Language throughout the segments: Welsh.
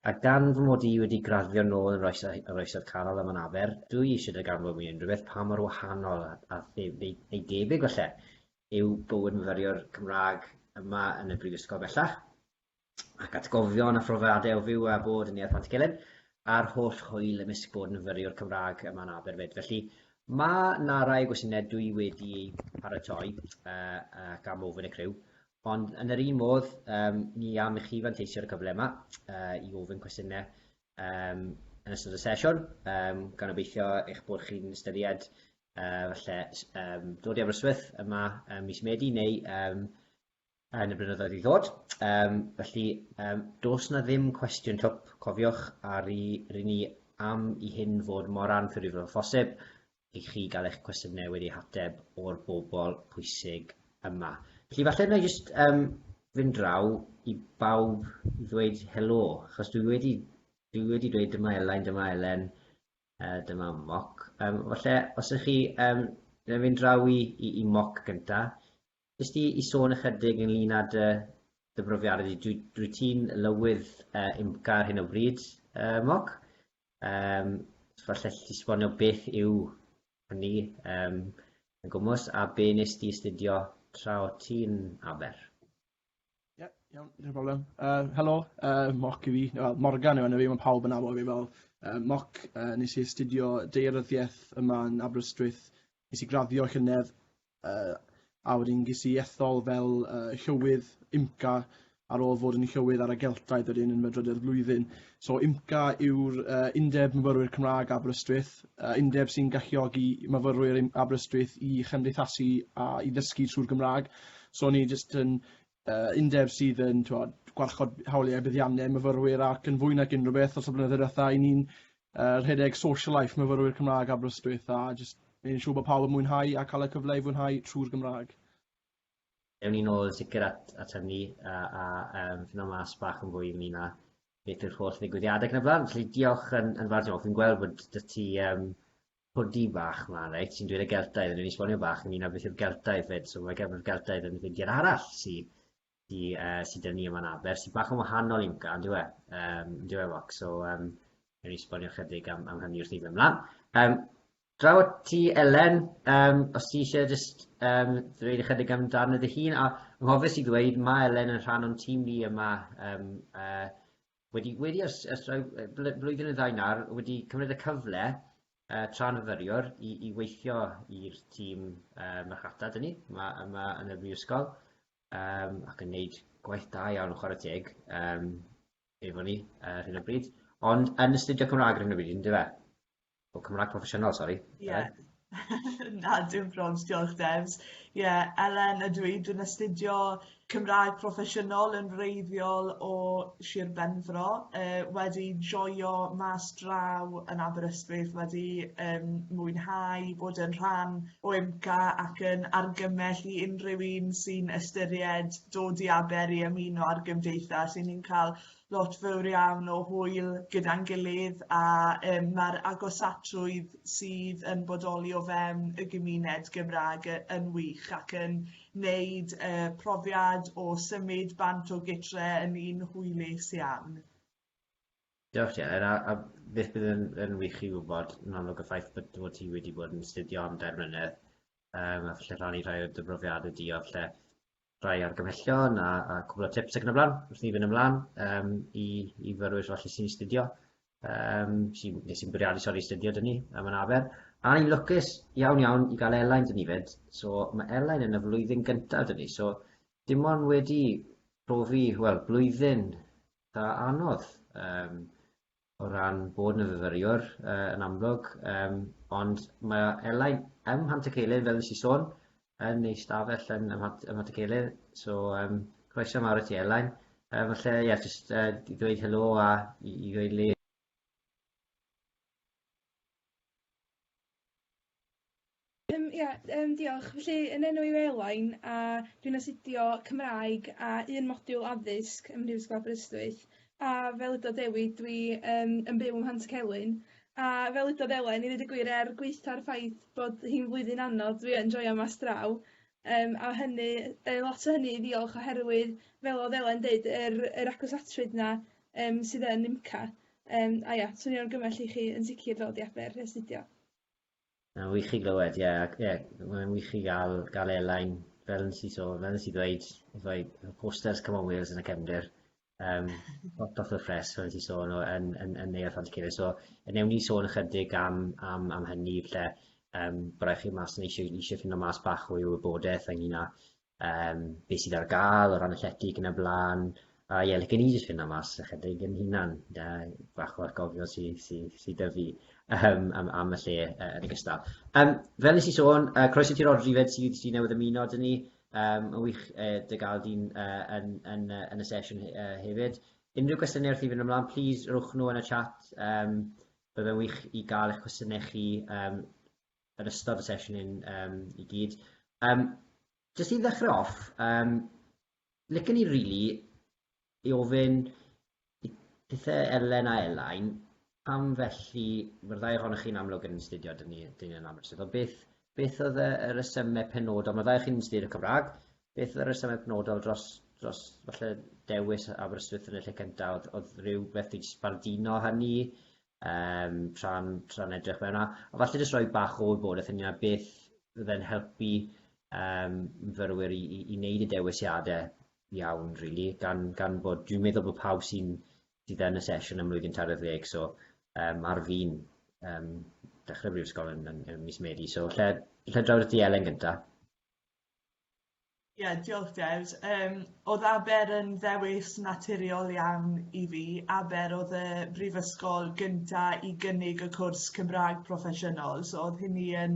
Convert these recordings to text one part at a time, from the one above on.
A gan fy mod i wedi graddio nôl yn yr Oesoedd Canol ym Manaber, dw i eisiau darganfod mwy o unrhyw beth pa mor wahanol a ei debyg falle yw bywyd myfyriwr Cymraeg yma yn y Brifysgol bellach, ac atgofion a phrofiadau o fyw a bod yn Neuadd Pantycelyn, a'r holl hwyl ymysg bod yn fyfyriwr Cymraeg yma yn Aberfyd. Felly, mae 'na rai o gwestiynau dw i wedi eu paratoi ac am ofyn y criw, Ond yn yr un modd, um, ni am i chi fanteisio ar y cyfle yma uh, i ofyn cwestiynau um, yn ystod y sesiwn, um, gan obeithio eich bod chi'n ystyried uh, falle um, dod i Aberystwyth yma um, mis Medi neu um, yn y blynyddoedd i ddod. Um, felly, um, dos na ddim cwestiwn twp, cofiwch, a rydyn ni am i hyn fod mor anffurifol o phosib, i chi gael eich cwestiynau wedi hateb o'r bobl pwysig yma. Felly falle na i jyst um, fynd draw i bawb i ddweud helo, achos dwi wedi, dwi wedi dweud dyma Elain, dyma Elen, uh, dyma Moc. Um, falle os ydych chi, um, na fynd draw i, i, i Moc gyntaf, Jyst i i sôn ychydig ynglŷn â dy dy brofiadau di dwy- dwyt ti'n lywydd yy UMPCA ar hyn o bryd yy Mog yym so falle allet ti sbonio beth yw hynny yym yn gwmws a be' wnest ti astudio tra o't ti'n Aber? Ie, iawn, dim problem. Uh, helo, uh, Moc i fi, well, Morgan yw enw fi, mae pawb yn abo fi fel uh, Moc. Uh, nes i astudio deiryddiaeth yma yn Aberystwyth. Nes i graddio llynedd, uh, a wedyn ges i ethol fel uh, llywydd IMCA ar ôl fod yn llywydd ar y Geltaidd wedyn yn fy drydedd flwyddyn. So UMCA yw'r Undeb Myfyrwyr Cymraeg Aberystwyth, undeb sy'n galluogi myfyrwyr yn Aberystwyth i chymdeithasu a i ddysgu trwy'r Gymraeg. So ni jyst yn undeb sydd yn twod, gwarchod hawliau buddiannau myfyrwyr ac yn fwy nag unrhyw beth os y blynyddoedd diwetha i ni'n uh, rhedeg social life myfyrwyr Cymraeg Aberystwyth a jyst yn siŵr bod pawb yn mwynhau a cael y cyfle i fwynhau trwy'r Gymraeg. Ewn ni nôl yn sicr at at hynny a a yym fino mas bach yn fwy ynglŷn â beth yw'r holl ddigwyddiade ac yn y blaen. Felly diolch yn yn fawr diolch. Fi'n gweld bod 'da ti yym hoodie bach mlan reit sy'n dweud y Geltaidd a newn ni sbonio bach ynglŷn â beth yw'r Geltaidd 'fyd. So mae gefn yr Geltaidd yn feindiad arall sy sy yy sy 'da ni yma yn Aber sy bach yn wahanol i Wmca on'd yw e? Yym on'd yw e Fox? So yym newn ni sbonio chydig am am hynny wrth i ni fyn' mlan. Yym Draw at ti Elen, yym os ti isie jyst yym dweud ychydig amdano dy hun a anghofes i ddweud ma' Elen yn rhan o'n tîm ni yma yym yy wedi wedi ers ers rhai yy bl- blwyddyn neu ddau nawr wedi cymryd y cyfle yy tra'n fyfyriwr i i weithio i'r tîm yy marchnata 'da ni ma' yma yn y brifysgol yym ac yn neud gwaith da iawn chware teg yym efo ni ar hyn o bryd ond yn astudio Cymrâg ar hyn o bryd yndyfe? O, Cymraeg proffesiynol, sori. Ie. Na, dim probs, diolch Devs. Ie, yeah, Elen ydw i, dwi'n astudio Cymraeg proffesiynol yn wreiddiol o Sir Benfro, uh, wedi joio mas draw yn Aberystwyth, wedi um, mwynhau bod yn rhan o IMCA ac yn argymell i unrhyw un sy'n ystyried dod i Aber i ymuno ar gymdeithas, sy'n ni'n cael lot fawr iawn o hwyl gyda'n gilydd a um, mae'r agosatrwydd sydd yn bodoli o fewn y gymuned Gymraeg yn wych ac yn wneud y uh, profiad o symud bant o gytre yn un hwylus iawn. Diolch Ger, a, a beth bydd yn, yn wych i wybod yn amlwg y ffaith bod, bod ti wedi bod yn studio am dair mlynedd um, a falle rhannu rhai o dy brofiadau di o falle rhai argymhellion a, a cwbl o tips ac yn y blaen wrth ni fynd ymlaen um, i, i fyrwyr falle sy'n astudio um, sy, neu sy'n bwriadu sori astudio dyn ni am yn afer a ni'n lwcus iawn iawn i gael Elain dyn ni fyd so mae Elain yn y flwyddyn gyntaf dyn ni so dim ond wedi profi wel blwyddyn da anodd um, o ran bod yn fyfyriwr yy yn amlwg yym ond mae o Elain ym Mhantyceilyn fel nes i sôn yn ei stafell yn ym Mhant- ym Mhantyceilyn so yym croeso mawr i ti Elain yy falle ie jyst yy i ddweud helo a i i ddweud le Yym ia yym diolch felly yn enw i Elain a dwi'n astudio Cymraeg a un modiwl addysg ym Mhrifysgol Aberystwyth a fel ydodd Dewi dwi yym yn byw ym Mhantcelyn a fel ydodd Elain i ddeud y gwir er gwaetha'r ffaith bod hi'n flwyddyn anodd dwi yn joio mas draw yym a hynny yy lot o hynny i ddiolch oherwydd fel o'dd Elain deud yr yr acws atrwydd 'na yym sydd yn UMCA Yym a ia, swnio'n argymell i chi yn sicr ddod i Aber i astudio. Mae'n wych i glywed, ie, ac ie, mae'n wych i gael, gael airline, fel nes i so, fel nes i ddweud, rhoi posters Come on Wales yn y cefndir, um, hot off the press, fel nes i sôn, o, yn, yn, yn Neuadd Llantycere. So, newn ni sôn ychydig am, am, am hynny, lle, um, byddai chi mas yn eisiau, eisiau ffindo mas bach o'i wybodaeth ynglyn â um, beth sydd ar gael o ran y llety yn y blaen, a ie, lle gen i jyst fynd am mas ychydig yn hunan, da, bach o'r gofio sydd sy, sy, sy dyfu um, am, am y lle uh, yn y gystal. Um, fel nes i sôn, uh, croeso ti Rodri fed sydd sy newydd ymuno dyn ni, um, yn wych uh, dy gael di'n uh, yn, yn, uh, yn y sesiwn uh, hefyd. Unrhyw gwestiynau wrth i fynd ymlaen, please rwch nhw yn y chat. Um, Byddai'n wych i gael eich cwestiynau chi um, yn ystod y sesiwn hyn um, i gyd. Um, just i ddechrau off, um, licen ni rili really i ofyn i pethau Elen a Elain, pam felly, mae'r ddau ohonych chi'n amlwg yn astudio dyn ni, dyn ni yn amlwg, o beth, beth oedd y resymau penodol, mae'r ddau chi'n astudio Cymraeg, beth oedd y resymau penodol dros, dros falle dewis Aberystwyth yn y lle cyntaf, oedd, oedd rhyw beth i sbardino hynny, Yym tra'n tra'n edrych mewn a a falle jyst rhoi bach o wybodaeth ynglŷn â beth fydde'n helpu yym myfyrwyr i i i wneud y dewisiade iawn rili gan gan bod dwi'n meddwl bod pawb sy'n sydd yn y sesiwn ym mlwyddyn tair ar ddeg so yym ar fin yym dechre brifysgol yn yn yn mis Medi so lle lle draw at ti Elen gynta? Ie diolch Des. Yym o'dd Aber yn ddewis naturiol iawn i fi, Aber o'dd y brifysgol gynta i gynnig y cwrs Cymraeg proffesiynol so o'dd hynny yn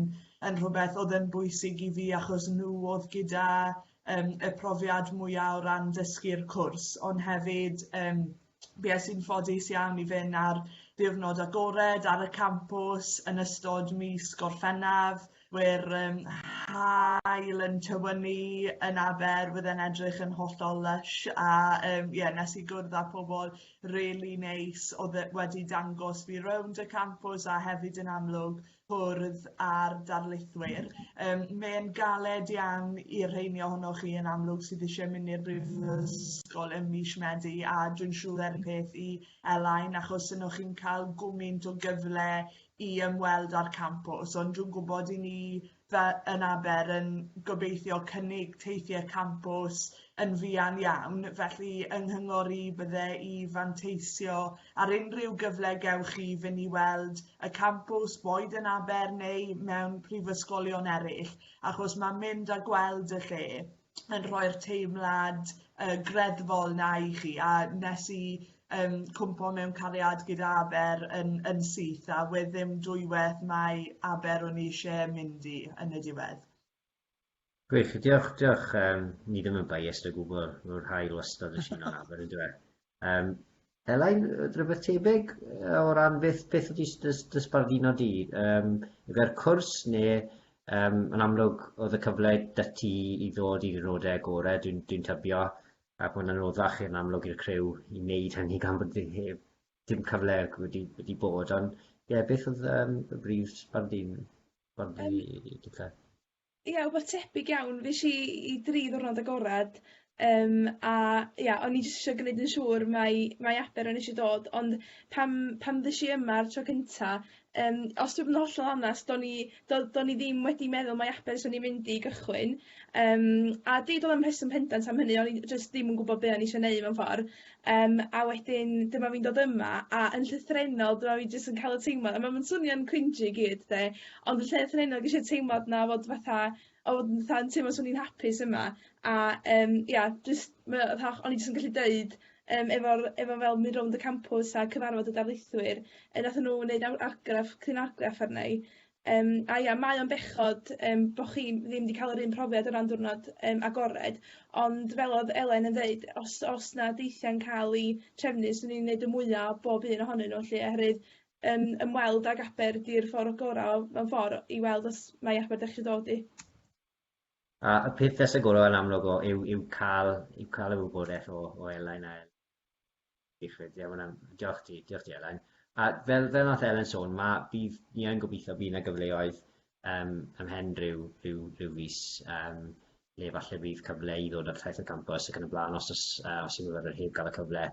yn rhwbeth o'dd yn bwysig i fi achos nhw o'dd gyda yym y profiad mwya' o ran dysgu'r cwrs ond hefyd yym bues i'n ffodus iawn i fynd ar ddiwrnod agored ar y campws yn ystod mis Gorffennaf, we'r um, hael yn tywynnu yn aber, bydd e'n edrych yn hollol lush a um, yeah, nes i gwrdd â pobl really neis oedd e wedi dangos fi rownd y campws a hefyd yn amlwg cwrdd â'r darlithwyr. Um, Mae'n galed iawn i'r rheini ohonoch chi yn amlwg sydd eisiau mynd i'r brifysgol ym mis Medi a dwi'n siŵr er y peth i Elain achos yno chi'n cael gwmynt o gyfle i ymweld â'r campws ond dwi'n gwybod i ni fel yn aber yn gobeithio cynnig teithiau campws yn fuan iawn felly yng nghyngor i bydde i fanteisio Ar unrhyw gyfle gewch chi fynd i weld y campws, boed yn Aber neu mewn prifysgolion eraill, achos mae mynd a gweld y lle yn rhoi'r teimlad uh, greddfol na i chi, a nes i um, cwmpo mewn cariad gyda Aber yn, yn syth a we ddim dwywaith mae Aber o'n i eisiau mynd i yn y diwedd. Gwych, diolch, diolch. Um, ni ddim yn biased o gwbl, mae'r hael wastad yn sy'n o'n aber, yn dweud. Um, Elain, rhywbeth tebyg o ran beth, beth ydy dysbarduno di? Um, Efo'r cwrs neu um, yn amlwg oedd y cyfle dy ti i ddod i'r rodau gorau, dwi'n dwi tybio, ac mae'n anoddach yn amlwg i'r crew i wneud hynny gan bod dim cyfle wedi, wedi bod, ond ie, yeah, beth oedd um, y brif sbardun? Wel fi... Yym. ...i dwtha. Ia wbath tebyg iawn fuesh i i dri ddiwrnod agorad yym a ia o'n i jyst isio gneud yn siŵr mai mai Aber o'n i isio dod ond pan pan ddesh i yma'r tro cynta yym os dwi bod yn hollol onast do'n i do- do'n i ddim wedi meddwl mai Aber swn i'n mynd i gychwyn yym a deud o'dd o'm rheswm pendant am hynny o'n i jyst ddim yn gwbod be' o'n i isio neu' mewn ffor Yym a wedyn dyma fi'n dod yma a yn llythrennol dyma fi jyst yn ca'l y teimlad a ma' ma'n swnio'n cringy i gyd 'de ond yn llythrennol ges i'r teimlad 'na fod fatha o fatha yn teimlo swn i'n hapus yma a yym ia jyst ma' o fatha o'n i jyst yn gallu deud yym efo'r efo fel mynd rownd y campws a cyfarfod y darlithwyr yy nathon nw neud ar- argraff cryn argraff arna i Yym a ia mae o'n bechod yym bo' chi ddim 'di ca'l yr un profiad o ran diwrnod yym agored ond fel odd Elen yn ddeud os o's 'na deithia'n ca'l 'u trefnu swn i'n neud y mwya o bob un ohonyn nw 'lly oherwydd yym ymweld ag Aber 'di'r ffor gora' o mewn ffor i weld os mai Aber 'dach chi dod i. A y peth fysa gora' yn amlwg o yw yw ca'l yw ca'l y wybodeth o o Elain a Diolch byth, ie, mae'n am- diolch ti, diolch ti Elen. A fel, fel nath Elen sôn, ma, bydd, ni yn gobeithio bydd yna gyfleoedd um, ymhen rhyw, rhyw, rhyw fus, um, le falle bydd cyfle i ddod ar thaith y campus ac yn y blaen, os, os, uh, os yw myfyrwyr heb gael y cyfle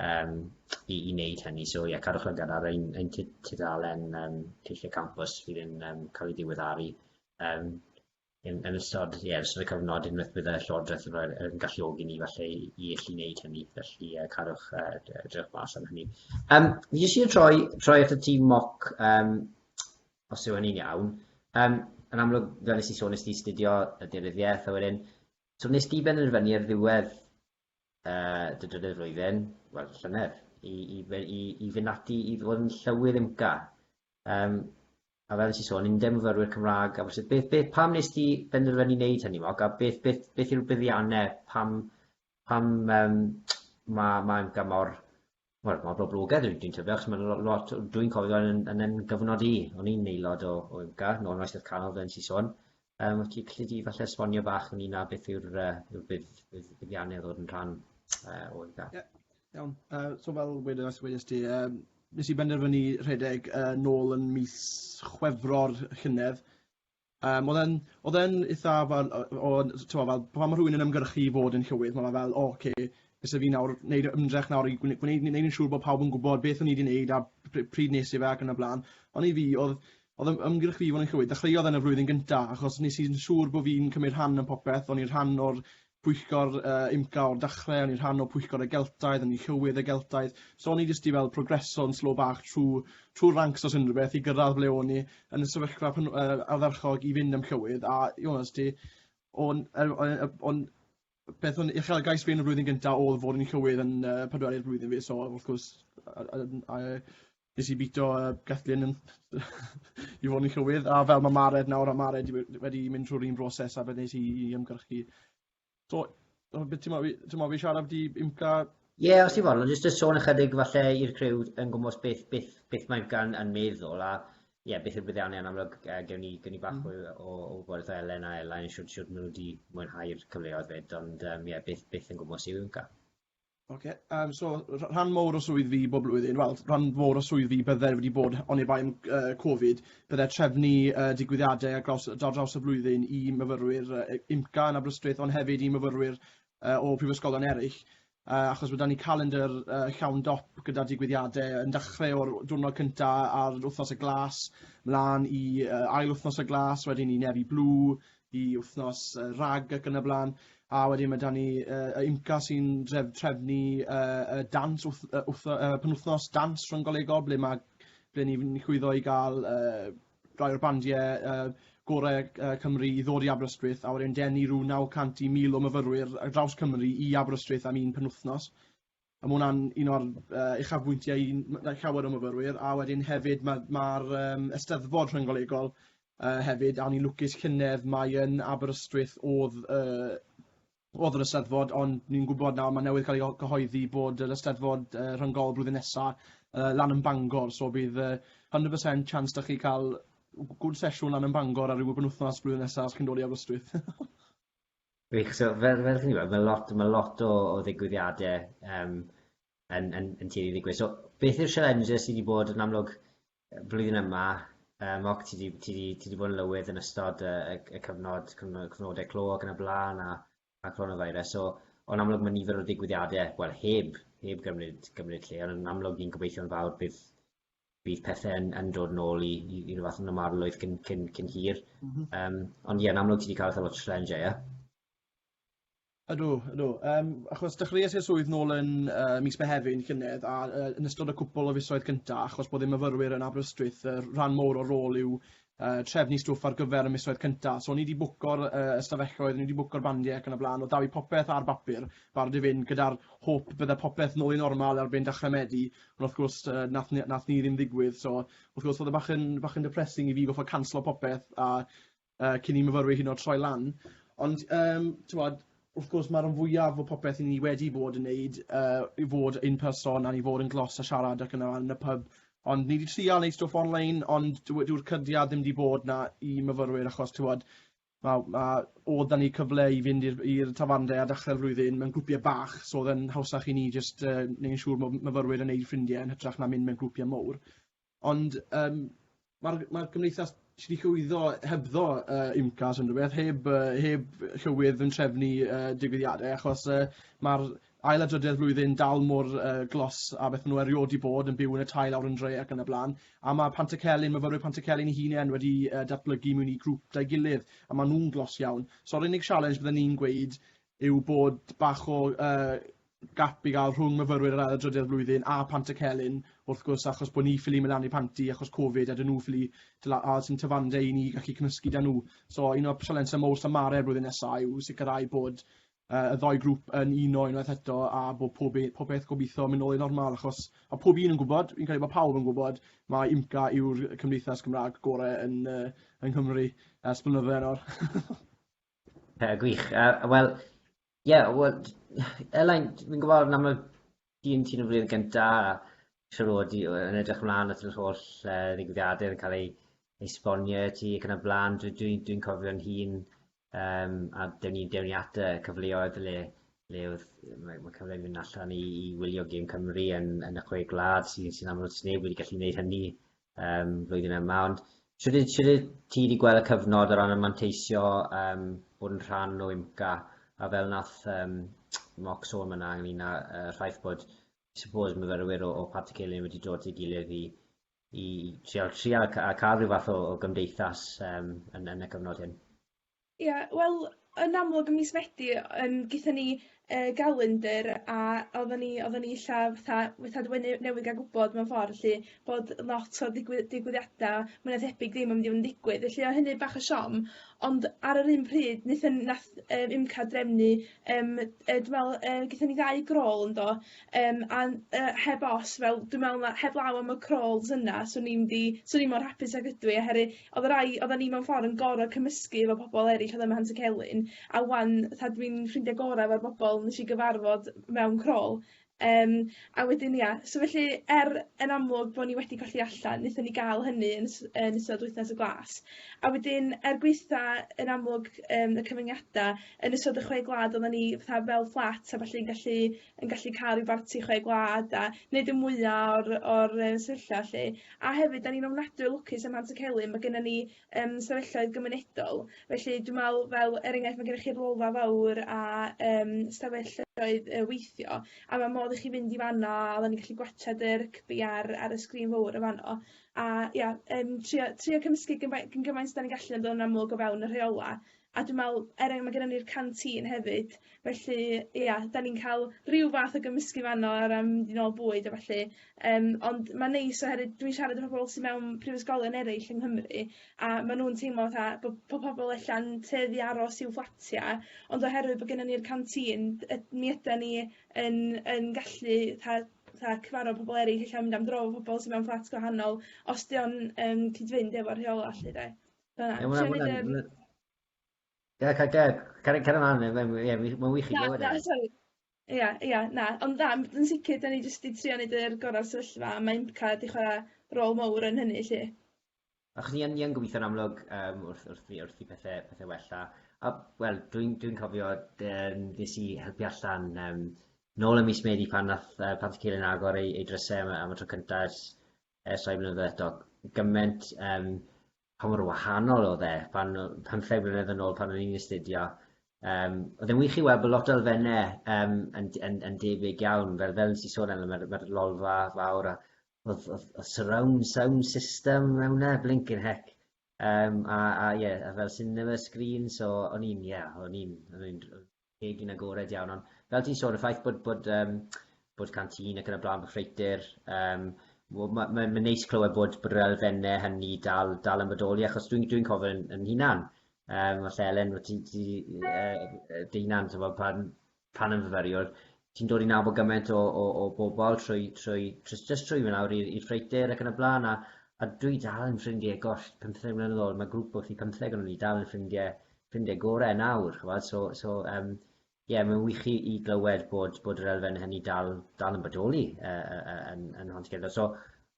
um, i, i wneud hynny. So ie, yeah, cadwch lygad ar ein, ein tudalen um, teithiau campus fydd yn um, cael ei diweddaru um, Yn yn ystod ie yn ystod y cyfnod unwaith bydd y Llywodraeth yn rhoi'r yn galluogi ni falle i i allu wneud hynny felly yy cadwch yy d- yy dewch mas am hynny. Yym fi jyst yn troi troi at y tîm moc yym os yw hynny'n iawn yym yn amlwg fel nes i sôn nes di astudio y deunyddiaeth a wedyn so wnes di benderfynu ar ddiwedd yy dy drydydd flwyddyn wel llynedd i i fe- i i fynd ati i fod yn llywydd IMCA Yym, a fel nes i sôn, 'yn ni'n myfyrwyr Cymraeg Aberystwyth. Beth, beth, pam nes di benderfynu wneud hynny, Mog? A beth, beth, beth yw'r buddiannau? Pam, pam um, mae ma Amca mor, wel, mor boblogaidd dwi'n dwi tybio, achos mae'n lot, dwi'n cofio yn, yn, yn gyfnod i, o'n i'n aelod o, o Amca, nôl yn oesoedd canol, fel nes i sôn. Um, wyt ti gallu di falle esbonio bach yn un a beth yw'r uh, yw bydd, bydd buddiannau ddod yn rhan uh, o IGA? Yeah. Iawn, uh, so fel wedes, wedes ti, um, nes i benderfynu rhedeg uh, nôl yn mis chwefro'r llynedd. Um, oedd e'n eitha fel, o, tywa, fel, pan mae rhywun yn ymgyrchu i fod yn llywydd, mae'n fel, o, oh, okay, nes i fi nawr, wneud ymdrech nawr i gwneud, gwneud, gwneud yn siŵr bod pawb yn gwybod beth o'n i wedi wneud a pryd nes i fe ac yn y blaen. Ond i fi, oedd, Odd ym- ymgyrch fi i fod yn Llywydd dechreuodd yn y flwyddyn gynta achos nes i'n siŵr bo' fi'n cymryd rhan yn popeth, o'n i'n rhan o'r pwyllgor yy UMCA o'r dachre, o'n i'n rhan o pwyllgor y Geltaidd, o'n i'n Llywydd y Geltaidd, so o'n i jyst 'di fel progreso yn slow bach trw trw'r ranks os unrhyw beth i gyrradd ble o'n i yn y sefyllfa pan yy ardderchog i fynd am Llywydd a you know os ti o'n yy o- yy o'n beth o'n uchelgais fi yn y flwyddyn gynta oedd fod yn llywydd yn uh, pedwerydd blwyddyn fi, so wrth gwrs nes i bito uh, Gathleen yn, i fod yn llywydd, a fel mae Mared nawr, a Mared wedi mynd trwy'r un broses a fe nes i, i ymgyrchu. So, beth ti'n meddwl fi siarad wedi imca Ie, yeah, os ti'n fawr, jyst y sôn ychydig falle i'r criw yn gwmwys beth, beth, beth mae gan yn meddwl a Ie beth yw'r buddiannau yn amlwg yy gewn ni gewn ni bach mwy o o wybodeth o Elen a Elain shwt shwt ma' nw 'di mwynhau'r cyfleoedd 'fyd ond yym ie beth beth yn gwmws yw Iwnca? Oce yym so rh- rhan mowr o swydd fi bob blwyddyn wel rhan fowr o swydd fi bydde wedi bod oni bai am yy Covid bydde trefnu yy digwyddiade ar graws yy ar draws y flwyddyn i myfyrwyr yy yy Iwnca yn Aberystwyth ond hefyd i myfyrwyr yy o prifysgolion eryll. Yy achos ma' 'da ni calendr yy llawn dop gyda digwyddiade yn dachre o'r w- diwrnod cynta ar Wthnos y Glas mlan i yy ail wthnos y Glas wedyn i Nefy Blue i wthnos yy Rag ac yn y bla'n. A wedyn ma' 'da ni yy y UMCA sy'n dref- trefnu yy y dawns wth- yy wtho- yy penwthnos dawns rhynggolegol ble ma' ble ni fyn' i chwyddo i ga'l yy rai o'r bandiau uh, gorau uh, Cymru i ddod i Aberystwyth a wedyn denu rhyw 900 i 1000 o myfyrwyr ar draws Cymru i Aberystwyth am un penwythnos. A mae hwnna'n un o'r uh, uchafbwyntiau i llawer o myfyrwyr. A wedyn hefyd mae'r ma, ma um, ysteddfod rhynggolegol uh, hefyd, a o'n i'n lwcus llynedd, mae yn Aberystwyth oedd uh, Oedd yr Eisteddfod, ond ni'n gwybod nawr, mae newydd cael ei gyhoeddi bod yr Eisteddfod uh, rhyngol blwyddyn nesaf uh, lan yn Bangor, so bydd uh, 100% chance da chi cael gwrdd sesiwn lan yn Bangor ar ryw wythnos blwyddyn nesaf os chi'n dod i Aberystwyth. Wych, so fel, fel chi'n gwybod, mae lot, mae lot o, o ddigwyddiadau um, yn, yn, yn tueddu i ddigwydd. So, beth yw'r challenges sydd wedi bod yn amlwg flwyddyn yma? Uh, Moc, ti wedi ti ti ti bod yn lywydd yn ystod y, y, y cyfnod, cyfnod, cyfnodau clo ac yn y blaen a, a coronavirus. So, o'n amlwg mae nifer o ddigwyddiadau, wel, heb, heb gymryd, gymryd lle, ond yn amlwg ni'n gobeithio'n fawr bydd, bydd pethau yn, yn dod yn ôl i, i, i rhywbeth yn ymarlwydd cyn, cyn, cyn hir. Mm -hmm. um, ond ie, yn amlwg ti wedi cael eitha lot o challenge, ie? Yeah? Ydw ydw yym achos dechreuais i'r swydd nôl yn yy mis Mehefin llynedd a yy yn ystod y cwpwl o fisoedd cynta' achos bod y myfyrwyr yn Aberystwyth yy rhan mowr o'r rôl yw yy trefnu stwff ar gyfer y misoedd cynta' so o'n i 'di bwco'r yy ystafelloedd o'n i 'di bwco'r bandie ac yn y bla'n o' 'da fi popeth ar bapur barod i fynd gyda'r hôp bydde popeth nôl i normal erbyn dechre Medi on' wrth gwrs yy nath ni nath ni ddim ddigwydd so wrth gwrs o'dd e bach yn bach yn depressing i fi goffod canslo popeth a yy cyn i myfyrwyr hyd yn o'd troi lan. Ond yym t'mod wrth gwrs ma' ran fwyaf o popeth 'yn ni wedi bod yn neud yy i fod in person a i fod yn glos a siarad ac yn y yn y pub ond ni 'di trial neud stwff on-line ond dyw e dyw'r cydiad ddim 'di bod 'na i myfyrwyr achos t'mod ma' ma' odd 'da ni cyfle i fynd i'r i'r tafarndai ar dachre'r flwyddyn mewn grwpie bach so odd e'n hawsach i ni jyst yy neud yn siŵr ma' myfyrwyr yn neud ffrindie yn hytrach na mynd mewn grwpie mowr. Ond yym ma'r ma'r gymdeithas sy 'di llwyddo hebddo yy UMCAS unrhyw beth heb yy heb llywydd yn trefnu yy digwyddiade achos yy ma'r ail adroddiad flwyddyn dal mor yy glos â beth ma' nw eriod 'di bod yn byw yn y tai lawr yn dre ac yn y bla'n a ma' Pantycelyn myfyrwyr Pantycelyn 'u hunen wedi yy datblygu mewn i grŵp 'da'i gilydd a ma' nw'n glos iawn. So'r unig sialens bydden i'n gweud yw bod bach o yy gap i gael rhwng myfyrwyr yr ail adroddiad flwyddyn a Pant y Celyn wrth gwrs achos bod ni ffili mynd lan i Panti achos Covid a dyn nhw ffili dyla a sy'n tyfande i ni gallu cymysgu da nhw. So un o'r sialensau mowr Samare blwyddyn nesaf yw sicrhau bod uh, y ddoi grŵp yn uno unwaith eto a bod pob, e, pob beth gobeithio mynd nôl i normal achos mae pob un yn gwybod, fi'n credu bod pawb yn gwybod, mae IMCA yw'r cymdeithas Cymraeg gorau yn, uh, yng Nghymru ers blynyddoedd nawr. Pethau gwych. Uh, Wel, ie, yeah, well, Elain, fi'n gwybod yn amlwg ti'n ti yn y flwyddyn gyntaf, siwr o di yn edrych ymlaen at yr holl uh, ddigwyddiadau yn cael ei esbonio ti ac yn y blaen. Dwi'n dwi, dwi, cofio'n hun um, a dewn ni, dewn ni at y cyfleoedd le, le oedd, mae, mae cyfleoedd mynd allan i, i wylio Gym Cymru yn, yn y chwe glad sy'n sy amlwg sy'n neb wedi gallu gwneud hynny um, flwyddyn yma, ond sydd ti wedi gweld y cyfnod o ran y manteisio um, bod yn rhan o IMCA a fel nath um, moc sôn yna ynglyn â uh, rhaid bod suppose myfyrwyr o, o Pat y Celyn wedi dod i gilydd i, i trial, trial a cael rhyw fath o, o gymdeithas um, yn, yn y cyfnod hyn? Ia wel yn amlwg ym mis Medi yym gethon ni yy galendr a oddan ni oddan ni isio fatha fatha dy- ne- newydd ga'l gwbod mewn ffor felly bod lot o ddigwy- digwyddiada mwy na thebyg ddim yn mynd i fod yn digwydd felly o' hynny bach o siom ond ar yr un pryd nethon nath yy UMCA drefnu yym yy dwi me'wl yy gethon ni ddau grôl yndo? Yym a n- yy heb os fel dwi me'wl ma' heblaw am y crawls yna swn i'n mynd i swn i mor hapus ag ydw i oherwydd odd y rai oddan ni mewn ffor yn gor'o' cymysgu efo pobol eryll odd ym Mhant y Celyn a ŵan 'tha dwi'n ffrindie gora' efo'r bobol nesh i gyfarfod mewn crawl yym a wedyn ia so felly er yn amlwg bo' ni wedi colli allan nethon ni ga'l hynny yn s- yn ystod Wythnos y Glas a wedyn er gwitha yn amlwg yym y cyfyngiada yn ystod y chwe gwlad oddan ni fatha fel fflat a ballu'n gallu yn gallu ca'l ryw barti chwe gwlad a neud y mwya o'r o'r yy sefyllfa 'lly a hefyd 'dan ni'n ofnadwy o lwcus ym Mhant-y-celyn ma' gynnon ni yym ystafelloedd gymunedol felly dwi me'wl fel er enghraifft ma' gennych chi'r Lolfa Fowr a yym ystafelloedd yy weithio a ma' modd i chi fynd i fan 'na a oddan ni'n gallu gwatsiad y rygbi ar ar y sgrin fowr y' fano a ia yym trio trio cymysgu gymai- gyn gymaint 'dan ni'n gallu ond yn amlwg o fewn y rheola' A dwi me'wl er eng- ma' gennon ni'r canteen hefyd felly ia 'dan ni'n ca'l ryw fath o gymysgu fan 'no o ran mynd i nôl bwyd a ballu yym ond ma'n neis oherwydd dwi'n siarad efo pobol sy mewn prifysgolion eryll yng Nghymru a ma' nw'n teimlo fatha bo' po' pobol ella'n tueddu i aros i'w fflatia ond oherwydd bo' gennon ni'r canteen d- yy mi ydan ni yn yn gallu 'tha 'tha cyfarfod pobol eryll ella mynd am dro efo pobol sy mewn fflat gwahanol os 'di o'n yn cyd-fynd efo rheola' 'lly 'de? Na, Ie, ma' hwnna- ma' hwnna'n- ma' hwnna- Ie, ca- ga- cario cario mlan ie mae'n ie wi- ma'n wych i glywed e. Na na sori. Ia ia na ond na m- yn sicir 'dan ni jyst 'di trio neud yr gora' o'r sefyllfa a ma' Impca 'di chwara' rôl mowr yn hynny 'lly. Achos ni yn ni yn gobitho'n amlwg yym wrth wrth i wrth i pethe pethe wella a wel dwi'n dwi'n cofio yym nes i helpu allan yym nôl ym mis Medi pan nath yy Pant y Celyn agor ei ei dryse am y am y tro cynta ers ers rhai blynyddoedd eto, gymaint yym pa mor wahanol oedd e pan o- pymtheg mlynedd yn ôl pan o'n i'n astudio yym oedd e'n wych i weld bo' lot o elfenne yym yn d- yn yn debyg iawn fel fel nes i sôn arno ma'r ma'r lolfa fawr a o'dd o'dd o'dd surround sound system mewn e blincin hec yym a a ie a fel cinema screen so o'n i'n ie o'n i'n o'n i'n r- Egin agored iawn, ond fel ti'n sôn, y ffaith bod, bod, um, bod canteen ac yn y blaen, bod ffreitur, um, mae'n ma, ma, ma neis clywed bod, bod yr elfennau hynny dal, dal yn bodoli, achos dwi'n dwi, cofio yn, yn hunan, um, os Elen, ti, ti, uh, dy hunan, pan, pan yn fyfyriwr, ti'n dod i nabod gymaint o, o, o bobl trwy, trwy, trwy, trwy, trwy mynd awr i'r ffreitur ac yn y blaen, a, a dwi dal yn ffrindiau, gosh, 15 mlynedd ôl, mae grŵp wrth i 15 o'n i dal yn ffrindiau ffrindiau gorau nawr, ch'mod, so so yym ie, mae'n wych i i glywed bod bod yr elfen hynny dal dal yn bodoli yy yy yy yn yn Nhanllwyddo. So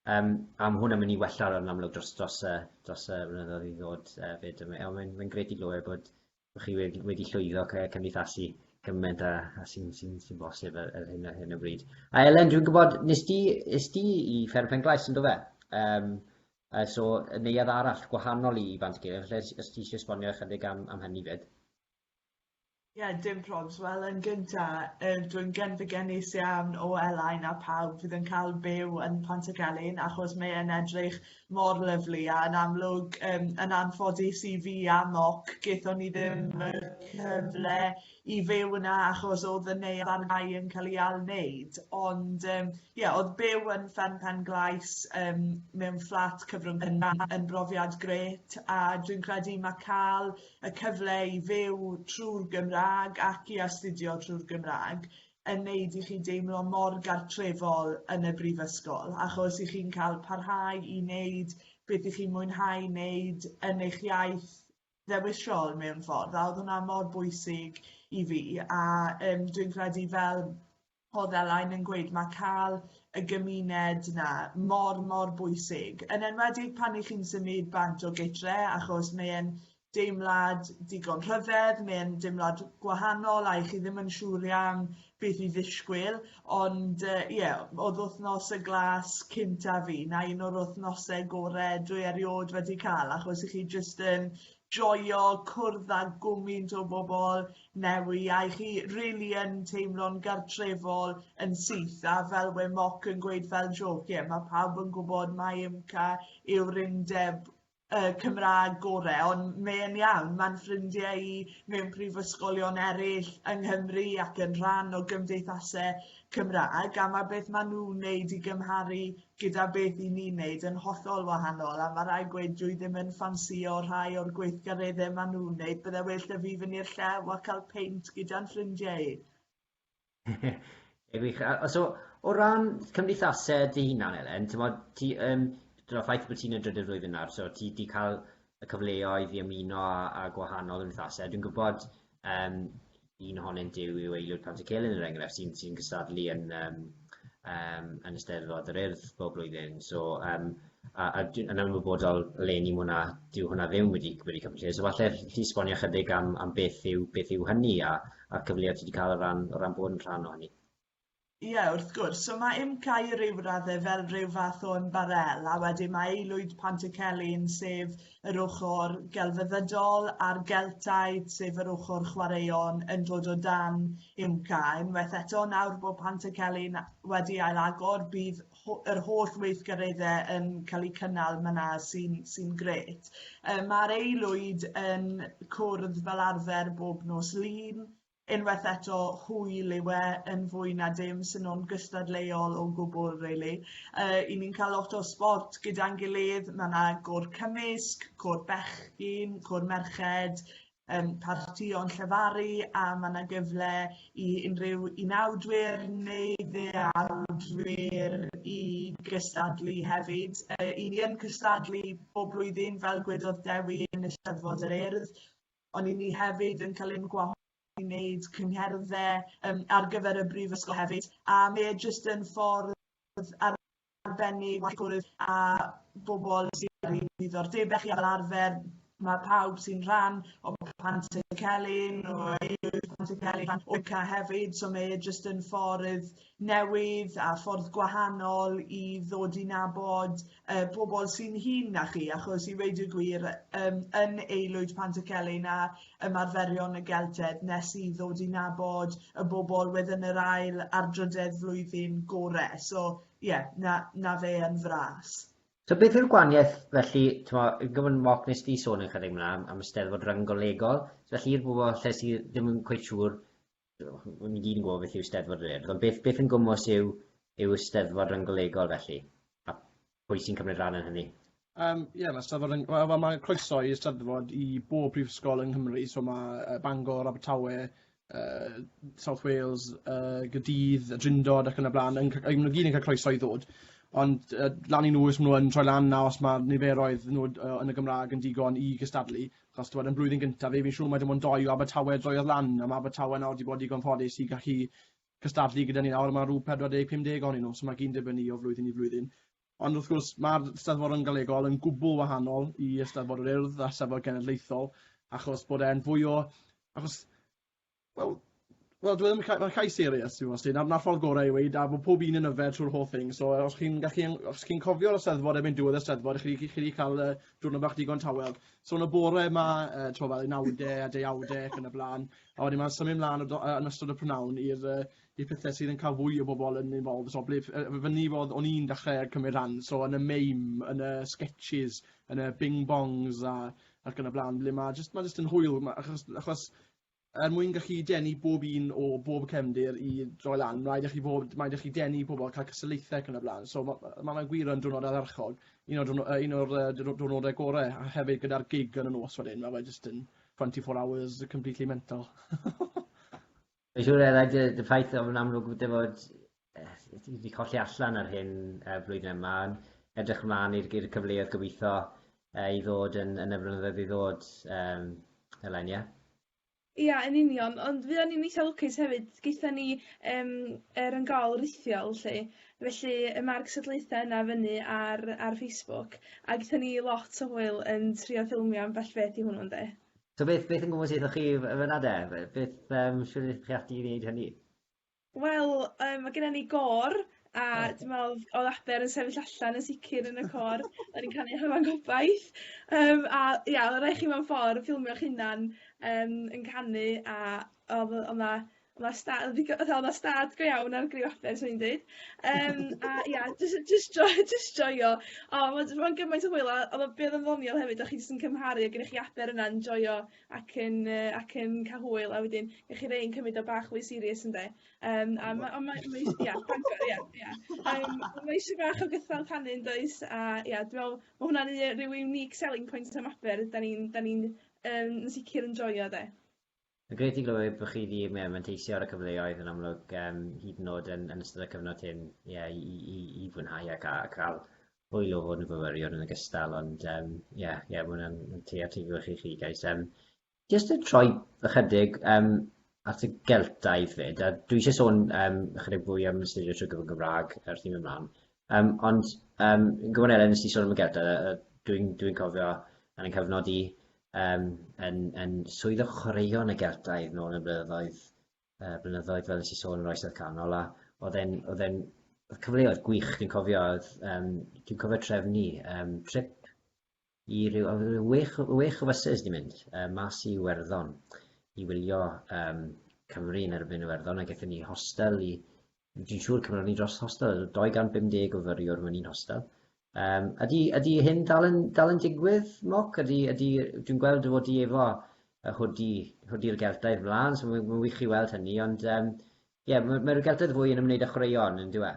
yym a ma' hwnna'n mynd i wella yn amlwg dros dros y dros y blynyddoedd i ddod yy 'fyd a ma' mae'n mae'n grêt i glywed bod bo' chi wed- wedi llwyddo cy- cymdeithasu gyment â â sy'n sy'n sy'n bosib ar ar hyn ar hyn o bryd. A Elen dwi'n gwbod nes di es di i Fferm Penclais yndofe? Yym Oes o neuadd arall gwahanol i Bant Gelf lle os os ti isie esbonio ychydig am am hynny 'fyd? Ie dim probs wel yn gynta yy dwi'n genfigennus iawn o Elain a pawb fydd yn ca'l byw yn Pantycelyn achos mae e'n edrych mor lyfli a yn amlwg yym yn anffodus i fi a Moc gethon ni ddim y cyfle i fyw yna achos o'dd y neuadd ar gau yn ca'l 'i ail-neud ond yym ie o'dd byw yn fferm Pen-glais yym mewn fflat cyfrwng gynnar yn brofiad grêt a dwi'n credu ma' ca'l y cyfle i fyw trw'r Gymrâg ac i astudio trw'r Gymrâg yn neud i chi deimlo mor gartrefol yn y brifysgol achos 'ych chi'n ca'l parhau i neud beth 'ych chi'n mwynhau neud yn eich iaith ddewis siol mewn ffordd a oedd hwnna mor bwysig i fi a um, dwi'n credu fel oedd Elain yn gweud, mae cael y gymuned yna mor, mor bwysig. Yn enwedig pan i chi'n symud bant o gytre, achos mae'n deimlad digon rhyfedd, mae'n deimlad gwahanol a i chi ddim yn siŵr iawn beth i ddisgwyl, ond uh, ie, yeah, oedd wythnos y glas cynta fi, na un o'r wythnosau gore dwi erioed wedi cael, achos i chi jyst yn joio cwrdd â gwmynt o bobl newy, a i chi rili really yn teimlo'n gartrefol yn syth, a fel we moc yn gweud fel joc, ie, yeah, mae pawb yn gwybod mae ymca yw'r undeb y Cymraeg gore ond mae e'n iawn, mae'n ffrindiau i mewn prifysgolion eraill yng Nghymru ac yn rhan o gymdeithasau Cymraeg a mae beth maen nhw'n wneud i gymharu gyda beth i ni'n wneud yn hollol wahanol a mae rhai gweud dwi ddim yn ffansïo rhai o'r gweithgareddau maen nhw'n wneud bydde well 'da fi fynd i'r llew a cael peint gyda'n ffrindiau i. Ie gwych. A so o ran cymdeithasau dy hunan Elen, t'mod ti yym t'mod y ffaith bo' ti'n y drydydd flwyddyn nawr so ti 'di ca'l y cyfleoedd i ymuno â â gwahanol gymdeithase a dwi'n gwbod yym un ohonynt yw yw aelod Pant y Celyn er enghraifft sy'n sy'n gystadlu yn yym yym yn Eisteddfod yr Urdd bob blwyddyn so yym a a dwi yn ymwybodol eleni ma' wnna dyw hwnna ddim wedi wedi ca'l 'i lle so falle alli di esbonio chydig am am beth yw beth yw hynny a a'r cyfleoedd ti 'di cael o ran o ran bod yn rhan o hynny? Ie wrth gwrs, so mae IMCAI i ryw radde fel rhyw fath o ymbarel a wedyn mae Aelwyd Pantycelyn sef yr ochr gelfyddydol a'r Geltaidd sef yr ochr chwaraeon yn dod o dan IMCAI. Unwaith eto nawr bod Pantycelyn wedi ail agor bydd yr holl weithgaredde yn cael eu cynnal myna sy'n sy gret. Um, Mae'r aelwyd yn cwrdd fel arfer bob nos lun, unwaith eto hwyl yw e yn fwy na dim sy'n nhw'n gystadleuol o gwbl really. Uh, I ni'n cael lot o sport gyda'n gilydd, mae yna gôr cymysg, côr bechgyn, côr merched, um, parti o'n llefaru a mae yna gyfle i unrhyw unawdwyr neu ddeawdwyr i gystadlu hefyd. Uh, I ni yn cystadlu bob blwyddyn fel gwedodd Dewi yn y Steddfod yr Urdd, ond i ni hefyd yn cael ein gwahodd i wneud cyngherddau um, ar gyfer y brifysgol hefyd a mae e jyst yn ffordd ar ar ben i waith cwrdd a bobol sy ar eu diddordebe chi a fel arfer ma' pawb sy'n rhan o Pant y Celyn o Ieir Pant y Celyn ac OCA hefyd so mae e jyst yn ffordd newydd a ffordd gwahanol i ddod i nabod yy pobol sy'n hŷn na chi achos i weud y gwir yym yn aelwyd Pant y Celyn a ymarferion y geltedd nes i ddod i nabod y bobl wedyn yr ail ar drydedd flwyddyn gore. So ie, yeah, na, na fe yn fras. So beth yw'r gwaniaeth felly, tymo, gyfyn moc nes di sôn yn chydig mlaen am y steddfod ryngolegol, so felly i'r bobl lle sydd ddim yn cweith siŵr Rydym ni gyd yn gwybod beth yw Steddfod yr Urdd, ond beth, beth yn gwmws yw, yw y Steddfod Rynggolegol felly? A pwy sy'n cymryd rhan yn hynny? Um, yeah, mae Steddfod yn... Wel, well, mae croeso i Steddfod i bob prifysgol yng Nghymru, so mae Bangor, Abertawe, uh, South Wales, uh, Gydydd, y Drindod ac yn y blaen, yn, yn, yn gyd yn cael croeso i ddod. Ond uh, lan i nhw os maen nhw yn troi lan na os mae niferoedd nhw uh, yn y Gymraeg yn digon i gystadlu, Achos t'mod yn blwyddyn gyntaf fi fi'n siŵr mai dim ond dou o Abertawe droiodd lan a ma' Abertawe nawr 'di bod digon ffodus i gallu cystadlu gyda ni nawr a ma' rw 40, 50 ohonyn nhw so ma' gyd yn dibynnu o flwyddyn i flwyddyn. Ond wrth gwrs ma'r Steddfodon Galegol yn gwbl wahanol i Eisteddfod yr Urdd a Steddfod Genedlaethol achos bod e'n fwy o achos Wel, wel dwi ddim yn ca- ma' cais serious yw o Sid a 'na'r ffordd gore i weud a bo' pob un yn yfed trwy'r holl thing so os chi'n gallu yn- os chi'n cofio ar y Steddfod erbyn diwedd y Steddfod chi 'di chi chi 'di ca'l yy diwrnod bach digon tawel. So yn y bore 'ma yy t'mo' fel unawde a deuawde ac yn y bla'n a wedyn ma'n symud mlan o do- yy yn ystod y prynawn i'r yy i'r pethe sydd yn ca'l fwy o bobol yn involved so ble f- yy f- fynny fo o'dd o'n i'n dechre cymryd rhan so yn y meim yn y sgetshis yn y bing bongs a ac yn y bla'n ble ma' jyst ma' jyst yn hwyl ma' achos achos er mwyn gallu denu bob un o bob cefndir i droi lan, mae'n rhaid i chi fod, mae'n rhaid chi denu pobl, cael cystadlaethau ac yn y blaen. So mae ma, ma gwir yn diwrnod ardderchog, un o'r, diwrnod, un o'r uh, diwrnodau gorau, a hefyd gyda'r gig yn y nos wedyn, mae fe just yn 24 hours completely mental. Mae'n siŵr eraill y ffaith o'n amlwg wedi fod Fi 'di colli allan ar hyn y flwyddyn yma ond edrych mlan i'r i'r cyfleoedd gobitho yy i ddod yn yn y flynyddoedd i ddod yym eleni ia? Ia yn union ond fuon i'n itha lwcus hefyd gaethon ni yym yr yn ga'l rithiol 'lly felly y ma'r cystadlaetha yna fyny ar ar Facebook a gethon ni lot o hwyl yn trio ffilmio ambell beth i hwnnw ynde? So beth beth yn gwmws chi yy fyn 'na de b- beth yym shwd 'ych chi ati i neud hynny? Wel yym ma' gennon ni gôr a dwi me'wl odd Abel yn sefyll allan yn sicir yn y côr o'n i'n canu Hafan Gobaith yym a ia o' rai' chi mewn ffor ffilmio'ch hunan yym yn canu a odd o- o' 'na o' 'na sta- odd ddigo- fatha o' 'na stad go iawn ar griw Abel swn i'n deud yym a ia jys yy jys joi- jys joio o ma' jys ma' o'n gymaint o hwyl a odd o be' odd o'n ddoniol hefyd o' chi jyst yn cymharu a gennych chi Aber yna yn joio ac yn yy ac yn ca'l hwyl a wedyn dych chi rei yn cymyd o bach mwy serious ynde? Yym a ma' on' mae mae ia Bangor ia ia yym mae eisiau bach o gythral canu yndoes a ia dwi me'wl ma' hwnna'n u- rhyw unique selling point am Aber 'dan ni'n 'dan ni'n yym yn sicir yn joio 'de? Mae'n grêt i glywed bo' chi 'di ie manteisio ar y cyfleoedd yn amlwg yym hyd yn o'd yn yn ystod y cyfnod hyn ie i i i i fwynhau ac a ca'l hwyl o fod yn fyfyriwr yn ogystal, ond ie, um, yeah, yeah, mae hwnna'n creatifio chi chi, guys. Um, just yn troi ychydig um, at y Geltaidd fyd, a dwi eisiau sôn um, ychydig fwy am ystyried trwy gyfer Gymraeg wrth i'n ymlaen. Um, ond um, yn gwybod Elen, nes ti sôn am y Geltaidd, dwi'n dwi cofio yn y cyfnod i um, yn, yn swydd o chwaraeon y Geltaidd nôl yn y blynyddoedd yy blynyddoedd fel nes i sôn yn yr oesoedd canol a o'dd e'n o'dd e'n o'dd cyfleoedd gwych dwi'n cofio o'dd yym dwi'n cofio trefn i yym trip i ryw o'dd ryw wech o wech o fyses di mynd yy mas i Iwerddon i wylio yym Cymru yn erbyn Iwerddon a gethon ni hostel i Rwyt ti'n siŵr cymron ni dros hostel, oedd 250 o fyriwr mewn un hostel. Um, ydy, ydy hyn dal yn, dal yn digwydd, Moc? Ydy, ydy, dwi'n gweld fod i efo y hwdi, hwdi'r geltaidd mlaen, so mae'n wych i weld hynny, ond ie, um, yeah, mae'r mae geltaidd fwy yn ymwneud â chwaraeon, yn diwe?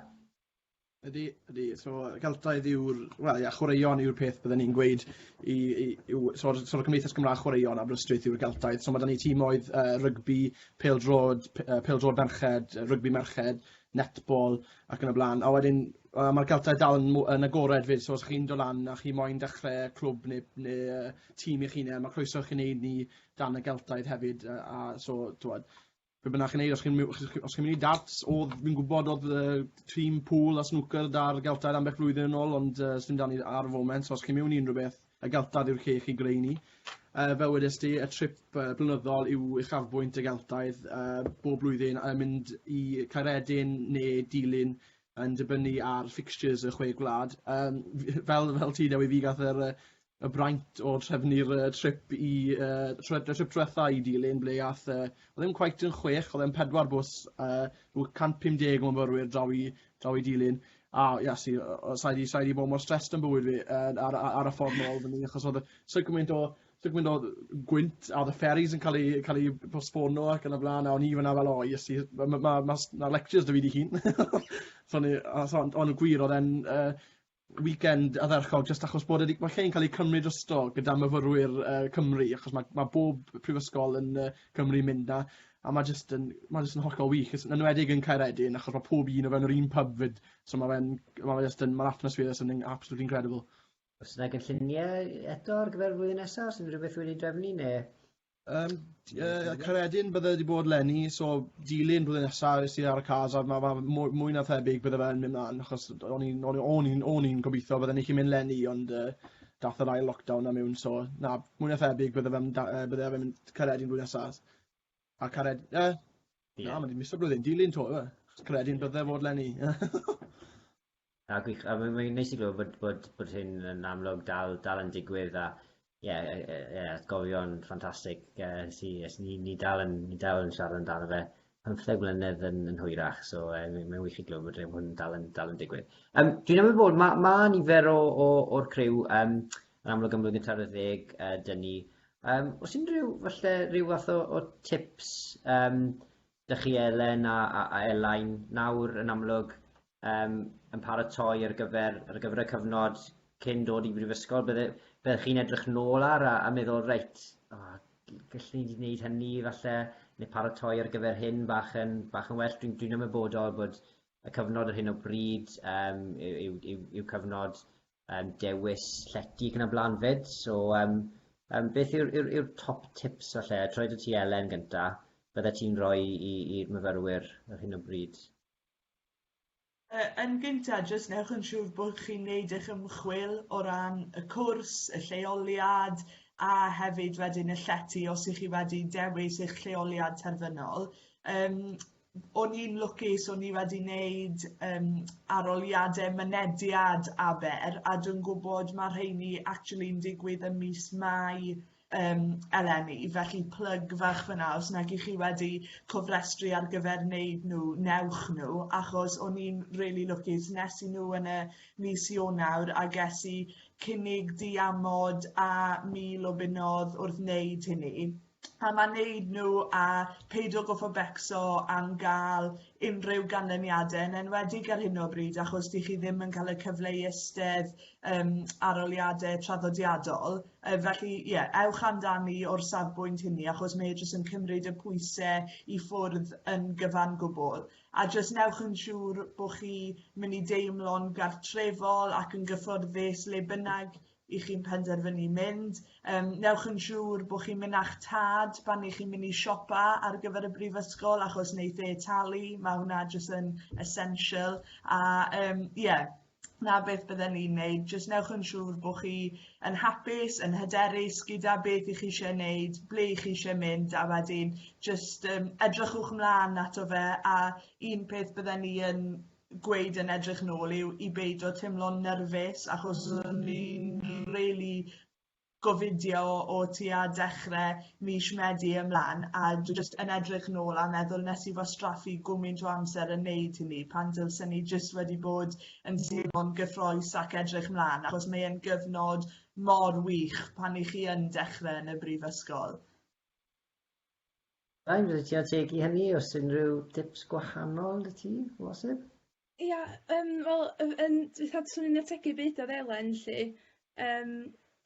Ydy, ydy. So, Celtaidd yw'r... Wel, ia, chwaraeon yw'r peth byddwn ni'n gweud i... i yw, so, so, Cymdeithas Gymraeg Chwaraeon Aberystwyth yw'r Celtaidd. So, mae da ni tîmoedd uh, rygbi, pêl-drod p- yy pêl-drod merched, rygbi merched, netball ac yn y blaen. A wedyn yy ma'r Geltaidd dal yn mw- yn agored 'fyd so os chi'n dod lan a chi moyn dechre clwb ne' ne' yy tîm eich hunen ma' croeso i chi neud 'ny dan y Geltaidd hefyd yy a so t'wod be' bynnag chi'n neud os chi'n my- os chi os chi'n myn' i darts odd fi'n gwbod odd yy tîm pŵl a snwcer 'da'r Geltaidd ambell flwyddyn yn ôl ond yy sdim 'da ni ar y foment so os chi'n miwn i unryw beth Y Geltaidd yw'r lle i chi greu ni. Uh, fel wedes ti, y trip uh, blynyddol yw uchafbwynt y Geltaidd uh, bob blwyddyn a mynd i Caeredin neu Dilyn yn dibynnu ar fixtures y chwe gwlad. Um, fel, fel ti, Dewi, fi gath yr, y braint o trefnu'r uh, trip i uh, trip diwetha i Dilyn, ble gath, uh, oedd e'n quite yn chwech, oedd e'n pedwar bws, uh, 150 o myfyrwyr draw i draw i dilyn a ia si o sai 'di sai 'di bod mor stressed yn bywyd fi yn ar ar ar y ffordd nôl efo ni achos odd y so gymaint o so gymaint o gwynt a odd y ferries yn ca'l eu ca'l eu postpono ac yn y bla'n a o'n i fana fel o Iesu ma' ma' ma' ma' s- ma' lectures 'da fi dy' Llun. So o'n i a so ond ond y gwir odd e'n yy weekend ardderchog jyst achos bod e 'di ma' lle'n ca'l ei cymryd drosto gyda myfyrwyr yy Cymru achos ma' ma' bob prifysgol yn yy Cymru mynd 'na a ma' jyst yn ma' jyst yn hollol wych jys yn enwedig yn Caeredin achos ma' pob un o fewn yr un pub 'fyd so ma' fe'n ma' fe jyst yn ma'r atmosphere jyst yn yn absolutely incredible. O's 'na gynllunie eto ar gyfer flwyddyn nesa, o's unrhyw beth wedi drefnu ne'? Yym d- yy Caeredin bydde wedi bod lenni so dilyn blwyddyn nesa es i ar y cars a ma' ma' mwy mwy na thebyg bydde fe'n myn' mlan achos d- o'n i'n o'n i o'n i'n o'n i'n gobitho bydden i 'llu mynd lenni ond yy dath yr ail lockdown a miwn so na mwy na thebyg bydde fe'n da- yy bydde fe'n mynd Caeredin blwyddyn nesa. A Caered- yy na ma' 'di misso blwyddyn dilyn 'to yw e? Achos Caeredin bydde fod lenni. Na gwych, a mae'n mae neis i glywed bod, bod, bod hyn yn amlwg dal, dal yn digwydd a ie, yeah, yeah, yeah, atgofion ffantastig uh, sy, yes, ni, ni, dal yn, ni dal yn siarad amdano fe pymtheg mlynedd yn, yn hwyrach, so uh, mae'n mae wych i glywed bod hyn dal yn, dal yn digwydd. Um, dwi'n amlwg bod, mae ma nifer o'r criw um, yn amlwg yn blwyddyn tar y ddeg uh, dyn ni. Um, os unrhyw, falle, rhyw fath o, o tips um, Dych chi Elen a Elain nawr yn amlwg yym yn paratoi ar gyfer ar gyfer y cyfnod cyn dod i brifysgol bydde byddech chi'n edrych nôl ar a a meddwl reit o gallwn i 'di neud hynny falle ne' paratoi ar gyfer hyn bach yn bach yn well dwi'n dwi'n ymwybodol bod y cyfnod ar hyn o bryd yym yw yw yw yw cyfnod Yym dewis llety ac yn y blaen 'fyd, so yym yym beth yw'r yw'r yw'r top tips falle? Troi dy ti Elen gynta, bydde ti'n roi i i'r myfyrwyr ar hyn o bryd? Yy yn gynta jyst newch yn siŵr bod chi'n neud eich ymchwil o ran y cwrs, y lleoliad a hefyd wedyn y llety os 'ych chi wedi dewis eich lleoliad terfynol. Yym o'n i'n lwcus o'n i wedi wneud um, aroliadau mynediad aber a dwi'n gwybod mae rheini actually'n digwydd ym mis Mai um, eleni, felly plyg fach fyna os nag i chi wedi cofrestru ar gyfer wneud nhw, newch nhw, achos o'n i'n really lwcus, nes i nhw yn y mis Ionawr a ges i cynnig diamod a mil o bunnodd wrth wneud hynny. a ma neud nhw a peidio goffo becso am gael unrhyw ganlyniadau yn enwedig ar hyn o bryd achos dych chi ddim yn cael y cyfle i eistedd um, aroliadau traddodiadol uh, felly ie yeah, ewch amdani o'r safbwynt hynny achos mae e jyst yn cymryd y pwysau i ffwrdd yn gyfan gwbl a jyst newch yn siŵr bod chi mynd i deimlo'n gartrefol ac yn gyfforddus le bynnag i chi'n penderfynu mynd, um, newch yn siŵr bod chi'n mynd â'ch tad pan i chi'n mynd i siopa ar gyfer y brifysgol achos wneud e talu, mae hwnna jyst yn essential a um, yeah, na beth bydden ni'n neud, jyst newch yn siŵr bod chi yn hapus, yn hyderus gyda beth i chi eisiau neud, ble i chi eisiau mynd a wedyn jyst um, edrychwch mlaen ato fe a un peth bydden ni yn gweud yn edrych nôl yw i beidio teimlo'n nyrfys achos o'n i'n rili gofidio o tua dechre mis Medi ymlan a jyst yn edrych nôl a meddwl nes i wastraffu gwmynt o amser yn neud hynny pan dylsen i jyst wedi bod yn teimlo'n gyffrous ac edrych mlan achos mae e'n gyfnod mor wych pan i chi yn dechre yn y brifysgol. Ga i roi teg i hynny os unrhyw dips gwahanol 'da ti o bosib? Ia yym wel yn yn dwetha swn i'n ategu be' udodd Elen 'lly yym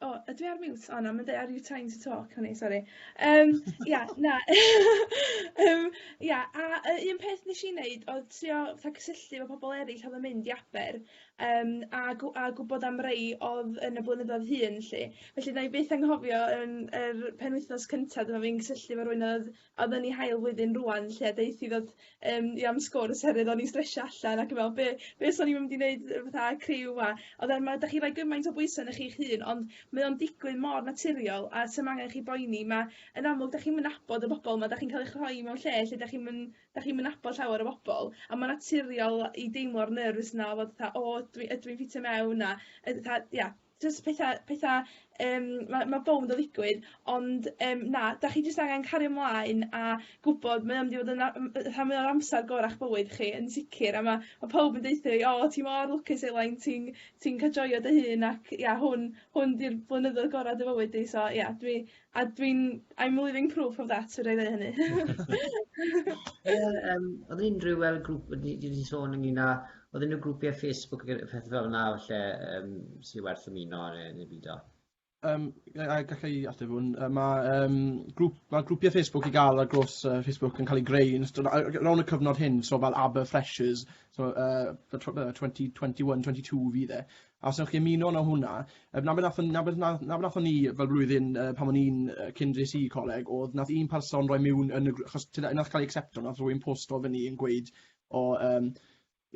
o ydw i ar mute? O na ma'n deu' are you trying to talk o'n i sori yym ia na yym ia a yy un peth nesh i neud odd trio fatha cysylltu efo pobol eryll odd yn mynd i Aber yym a gw- a gwbod am rei odd yn y blynyddoedd hŷn 'lly. Felly 'nai byth anghofio yn yr penwythnos cynta dyma fi'n cysylltu 'fo rywun odd odd yn 'i hail flwyddyn rŵan 'lly a deuth 'i ddod yym i am sgwrs oherwydd o'n i'n stresio allan ac yn me'wl be' be' swn i ddim 'di neud yy fatha criw 'ma. Odd e'n ma' 'dach chi roi gymaint o bwyse arnoch chi'ch hun ond mae o'n digwydd mor naturiol a 's'am angen chi boeni ma' yn amlwg 'dach chi'm yn nabod y bobol 'ma 'dach chi'n ca'l eich rhoi mewn lle lle 'dach chi'm yn 'dach chi'm yn nabod llawer o bobol a ma'n naturiol i deimlo'r nyrfys 'na o fod fatha o ydw i ydw i'n ffitio mewn a yy fatha ia jys petha petha yym ma' ma' bownd o ddigwydd ond yym na 'dach chi jyst angen cario mlaen a gwbod mae o mynd i fod yn a- m- yy rhan fwya o'r amsar gora'ch bywyd chi yn sicir a ma' ma' pawb yn deutho fi o ti mor lwcus Elain ti'n ti'n ca'l joio dy hun ac ia hwn hwn 'di'r blynyddoedd gora' dy fywyd di so ia dwi A dwi'n I'm living proof of that fedra i ddeu hynny. Ie yym odd e'n unrhyw fel grŵp wedi di di sôn ynglŷn â odd unrhyw grwpie Facebook ag yy pethe fel 'na falle yym sy werth ymuno ne' ne' byd o? Yym ga- a galla i ateb hwn yy ma' yym grŵp ma' grwpie Facebook i ga'l ar draws yy Facebook yn ca'l ei greu yn ystod a- yy rownd y cyfnod hyn so fel Aber Freshers so yy fel tw- yy twenty twenty one twenty two fydd e. A os newch chi ymuno na hwnna, yy 'na be' nathon 'na beth na 'na be' nathon ni fel blwyddyn yy pan o'n i'n yy cyn dres i i coleg o'dd nath un person roi miwn yn y grŵ- achos t'od yy nath ca'l ei acsepto nath rywun posto fyny yn gweud o yym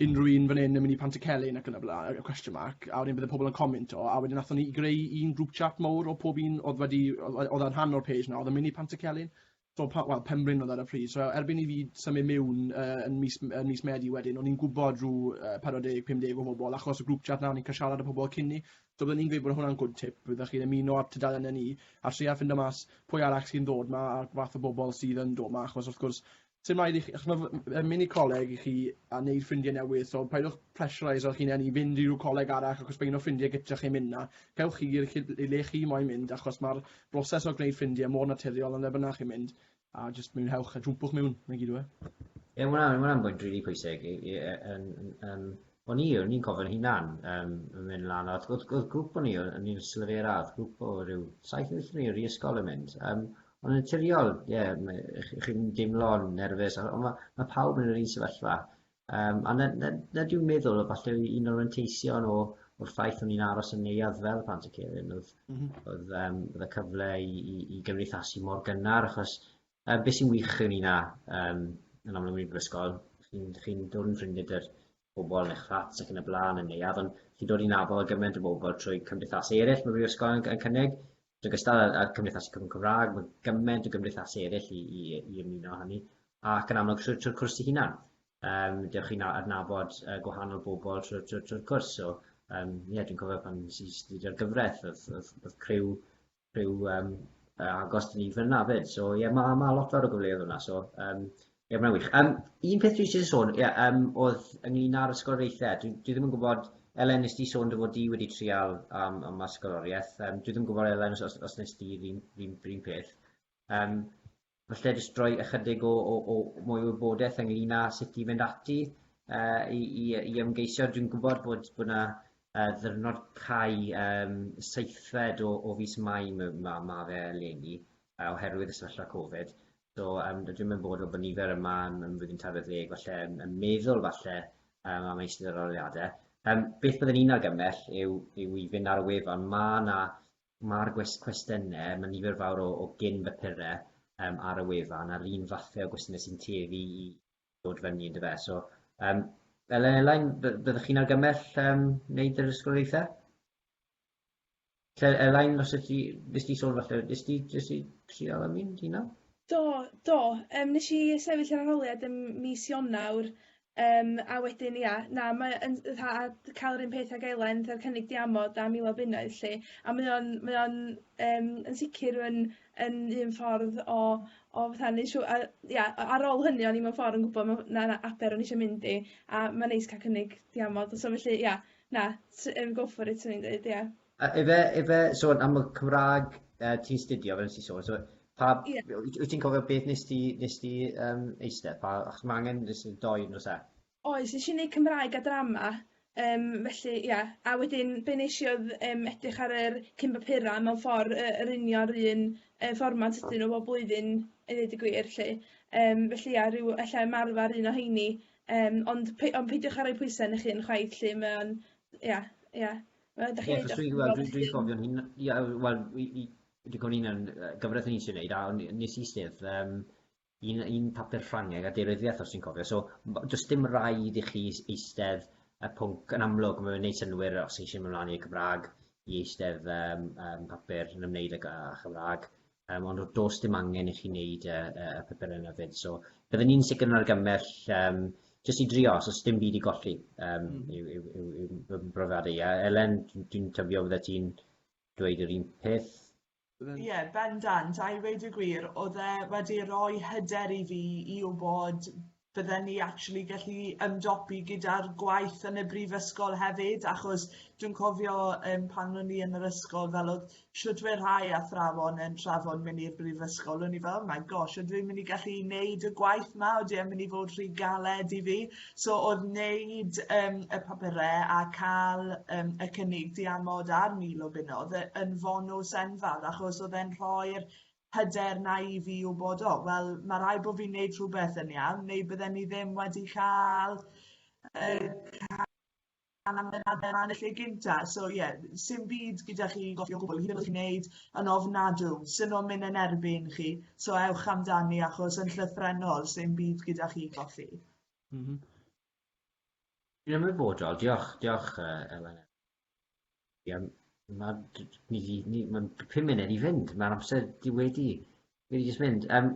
unrhyw un fan 'yn yn myn' i Pantycelyn ac yn y bla- yy question mark a wedyn bydde pobol yn cominto a wedyn nathon ni greu un grŵp chat mowr o pob un o'dd wedi o- o- o'dd yn rhan o'r page 'na o'dd yn myn' i Pantycelyn. So, pa, wel, Penbryn oedd ar y pryd. So, erbyn i fi symud mewn uh, yn, mis, yn mis Medi wedyn, o'n i'n gwybod rhyw uh, 40-50 o bobl, achos y grŵp chat na, o'n i'n cael siarad â pobl cyn ni. So, byddwn i'n gweud bod hwnna'n good tip, byddwch chi'n ymuno â'r tudalen yn ni, a trio ffindo mas pwy arall sy'n dod ma, a'r fath o bobl sydd yn dod ma, achos wrth gwrs, sy'n rhaid i chi, achos mae mynd i coleg i chi a wneud ffrindiau newydd, so paidwch pressurize o'ch hunain i fynd i rhyw coleg arall ac os mae un o ffrindiau gyda chi'n mynd na, cewch chi i'r lle chi moyn mynd achos mae'r broses o gwneud ffrindiau mor naturiol yn lle bynnag chi'n mynd, a jyst mwynhewch a jwmpwch mewn, 'na i gyd yw e. Ie, ma' hwnna'n, ma' hwnna'n bwynt rili pwysig. I- i- yy, yn- yn- Yym, o'n i, o'n i'n cofio'n hunan, yym, yn mynd lan, a o'dd o'dd o'dd grŵp o'n i, o- o'n i'n ystod yr radd, grŵp o ryw saith neu wyth o'n i o'r ysgol yn mynd, yym, ond yn naturiol, ie, ma- y'ch chi'n deimlo'n nerfus, on' ma' ma' pawb yn yr un sefyllfa, Yym, a na, na, na dwi'n meddwl, falle un o'r anteision o, o'r ffaith o'n i'n aros yn neuadd fel plant y Celyn, oedd, mm -hmm. oedd, um, oedd y cyfle i, i, i gymdeithasu mor gynnar, achos uh, beth sy'n wych yn un a, um, yn amlwg yn brifysgol, chi'n chi dod yn ffrindiau dy'r pobl yn eich fflat ac yn y blaen yn neuadd, ond chi'n dod i'n nabod gymaint o bobl trwy cymdeithasau eraill mae brifysgol yn, yn cynnig, Yn ogystal â'r, â'r Cymdeithasi Cyfrwng Cymraeg, mae gymaint o gymdeithasau eraill i, i, i ymuno â hynny, ac yn amlwg trwy'r trwy cwrs ei hunan. Um, dewch chi'n adnabod uh, gwahanol bobl trwy'r trwy, trwy cwrs. So, um, yeah, dwi'n cofio pan nes i studio'r gyfraith, oedd, oedd, oedd criw, criw um, agos dyn ni fyna fyd. So, ie, yeah, mae ma lot fawr o gyfleoedd yna. So, um, Ie, mae'n wych. Um, un peth dwi eisiau sôn, ie, um, oedd ynglyn â'r ysgoloriaethau. Dwi, dwi ddim yn gwybod, Elen, nes di sôn dy fod di wedi trial um, am ysgoloriaeth. Um, dwi ddim yn gwybod, Elen, os, os nes di yr un peth. Um, falle jyst rhoi ychydig o, o, o mwy o wybodaeth ynglyn â sut i fynd ati uh, i, i, i ymgeisio. Dwi'n gwybod bod bod yna uh, ddyrnod cau um, seithfed o, o fus mai mae ma, ma fe eleni uh, oherwydd y sefyllfa Covid. So um, dwi ddim yn bod o bod nifer yma yn, yn flwyddyn tarfod ddeg, falle yn, yn meddwl falle um, am eistedd yr aroliadau. Um, beth byddwn i'n argymell yw, yw i fynd ar y wefan. Mae yna mae'r cwestiynau, mae nifer fawr o, o gyn bapurau um, ar y wefan a'r un fathau o gwestiynau sy'n tueddu i ddod fyny yn dy fe. So, um, Elain, byddwch chi'n argymell um, wneud yr ysgoloriaethau? Lle Elain fyse ti nes di sôn falle nes di nes di trial am un ti nawr? Do do yym nes i sefyll yr arholiad ym mis Ionawr yym a wedyn ia na mae yn fatha a d- ca'l yr un peth ag Elen fatha'r cynnig diamod a mil o bunnoedd lly a mae o'n mae o'n yym yn sicir yn yn un ffordd o o fatha neu' siw- a ia a- ar ôl hynny o'n i mewn ffor yn gwbo ma' na na aber o'n i isio mynd i a ma'n neis ca'l cynnig diamod so felly ia Na, t- yym go for it 'swn i'n deud, ia. A ife, ife, so am y Cymraeg uh, ti'n studio, fel nes i sôn, so pa, yeah. wyt ti'n cofio beth nes ti, nes ti um, eistedd, pa, achos mae angen nes i'n doi nos e? Oes, nes i'n neud Cymraeg a drama, um, felly, ia, yeah. a wedyn, be nes i oedd um, edrych ar yr cyn papura mewn ffordd uh, yr unio'r un uh, fformat ydyn nhw bob blwyddyn, i ddweud y gwir, lle. Um, felly, ia, rhyw, efallai ymarfer un o heini, Yym ond pei- ond peidiwch â roi pwyse arnoch hun chwaith 'lly mae o'n ia ia wel dach chi'n ia wel i i dwi'n cofio un yy gyfres o'n i isie neud a o'n i nes i sedd yym un yy un papur Ffrangeg a deiryddiaeth os ti'n cofio so m- do's dim raid i chi s- eistedd y pwnc yn amlwg ma' fe'n neud synnwyr os chi isie myn' mlan i Cymra'g i eistedd yym yym papur yn ymwneud ag yy Chymra'g Um, ond does dim angen i chi wneud y, y, y pethau yna fyd. So, byddwn ni'n sicr yn argymell um, jyst i drio, os oes dim byd i golli um, mm. yw, yw, yw, yw, yw brofiadau. A Elen, dwi'n tyfio fydda ti'n dweud yr un peth? Ie, yeah, bendant, a i weid y gwir, oedd e wedi rhoi hyder i fi i wybod bydden ni actually gallu ymdopi gyda'r gwaith yn y brifysgol hefyd achos dwi'n cofio um, pan o'n i yn yr ysgol fel oedd siwtwyr rhai athrawon yn trafod mynd i'r brifysgol o'n i fel oh my gosh ydw i'n mynd i gallu wneud y gwaith ma ydw i'n mynd i fod rhy galed i fi so oedd wneud um, y papurau a cael um, y cynnig diamod a'r mil o bunnoedd yn fonws enfawr achos oedd e'n rhoi'r hyder na i fi wybod, o, wel, mae rhaid bod fi'n neud rhywbeth yn iawn, neu bydden ni ddim wedi cael uh, cael amdanader yn y lle gynta. So ie, yeah, sy'n byd gyda chi gofio gwbl, hyd yn oed chi'n neud yn ofnadw, sy'n o'n mynd yn erbyn chi, so ewch amdani achos yn llythrenol sy'n byd gyda chi goffi. Mm -hmm. Yn ymwybodol, diolch, diolch uh, Elen. Iawn. Mae ni di... Ni... Mae'n pum munud i fynd. Mae'r amser di wedi... wedi jyst mynd. Um,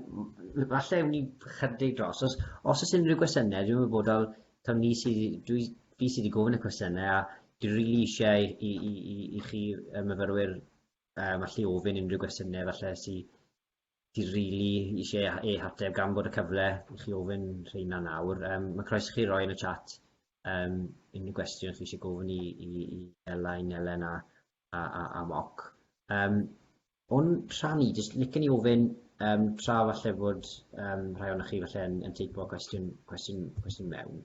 falle ewn ni chydig dros. Os, os oes unrhyw gwestiynau, dwi'n wybodol, tawn ni sydd... Dwi, fi sydd wedi gofyn y cwestiynau a dwi'n rili really eisiau i, i, i, i chi y myfyrwyr um, allu ofyn unrhyw gwestiynau falle sydd Ti rili isie ei hateb gan bod y cyfle i chi ofyn rheina nawr. Yym ma' croeso chi roi yn y chat yym unrhyw gwestiwn chi isie gofyn i i i Ela i Nelen a a a a Moc. Yym o'n rhan i jyst licen i ofyn yym tra falle bod yym rhai ohonoch chi falle yn yn teipo cwestiwn cwestiwn cwestiwn mewn.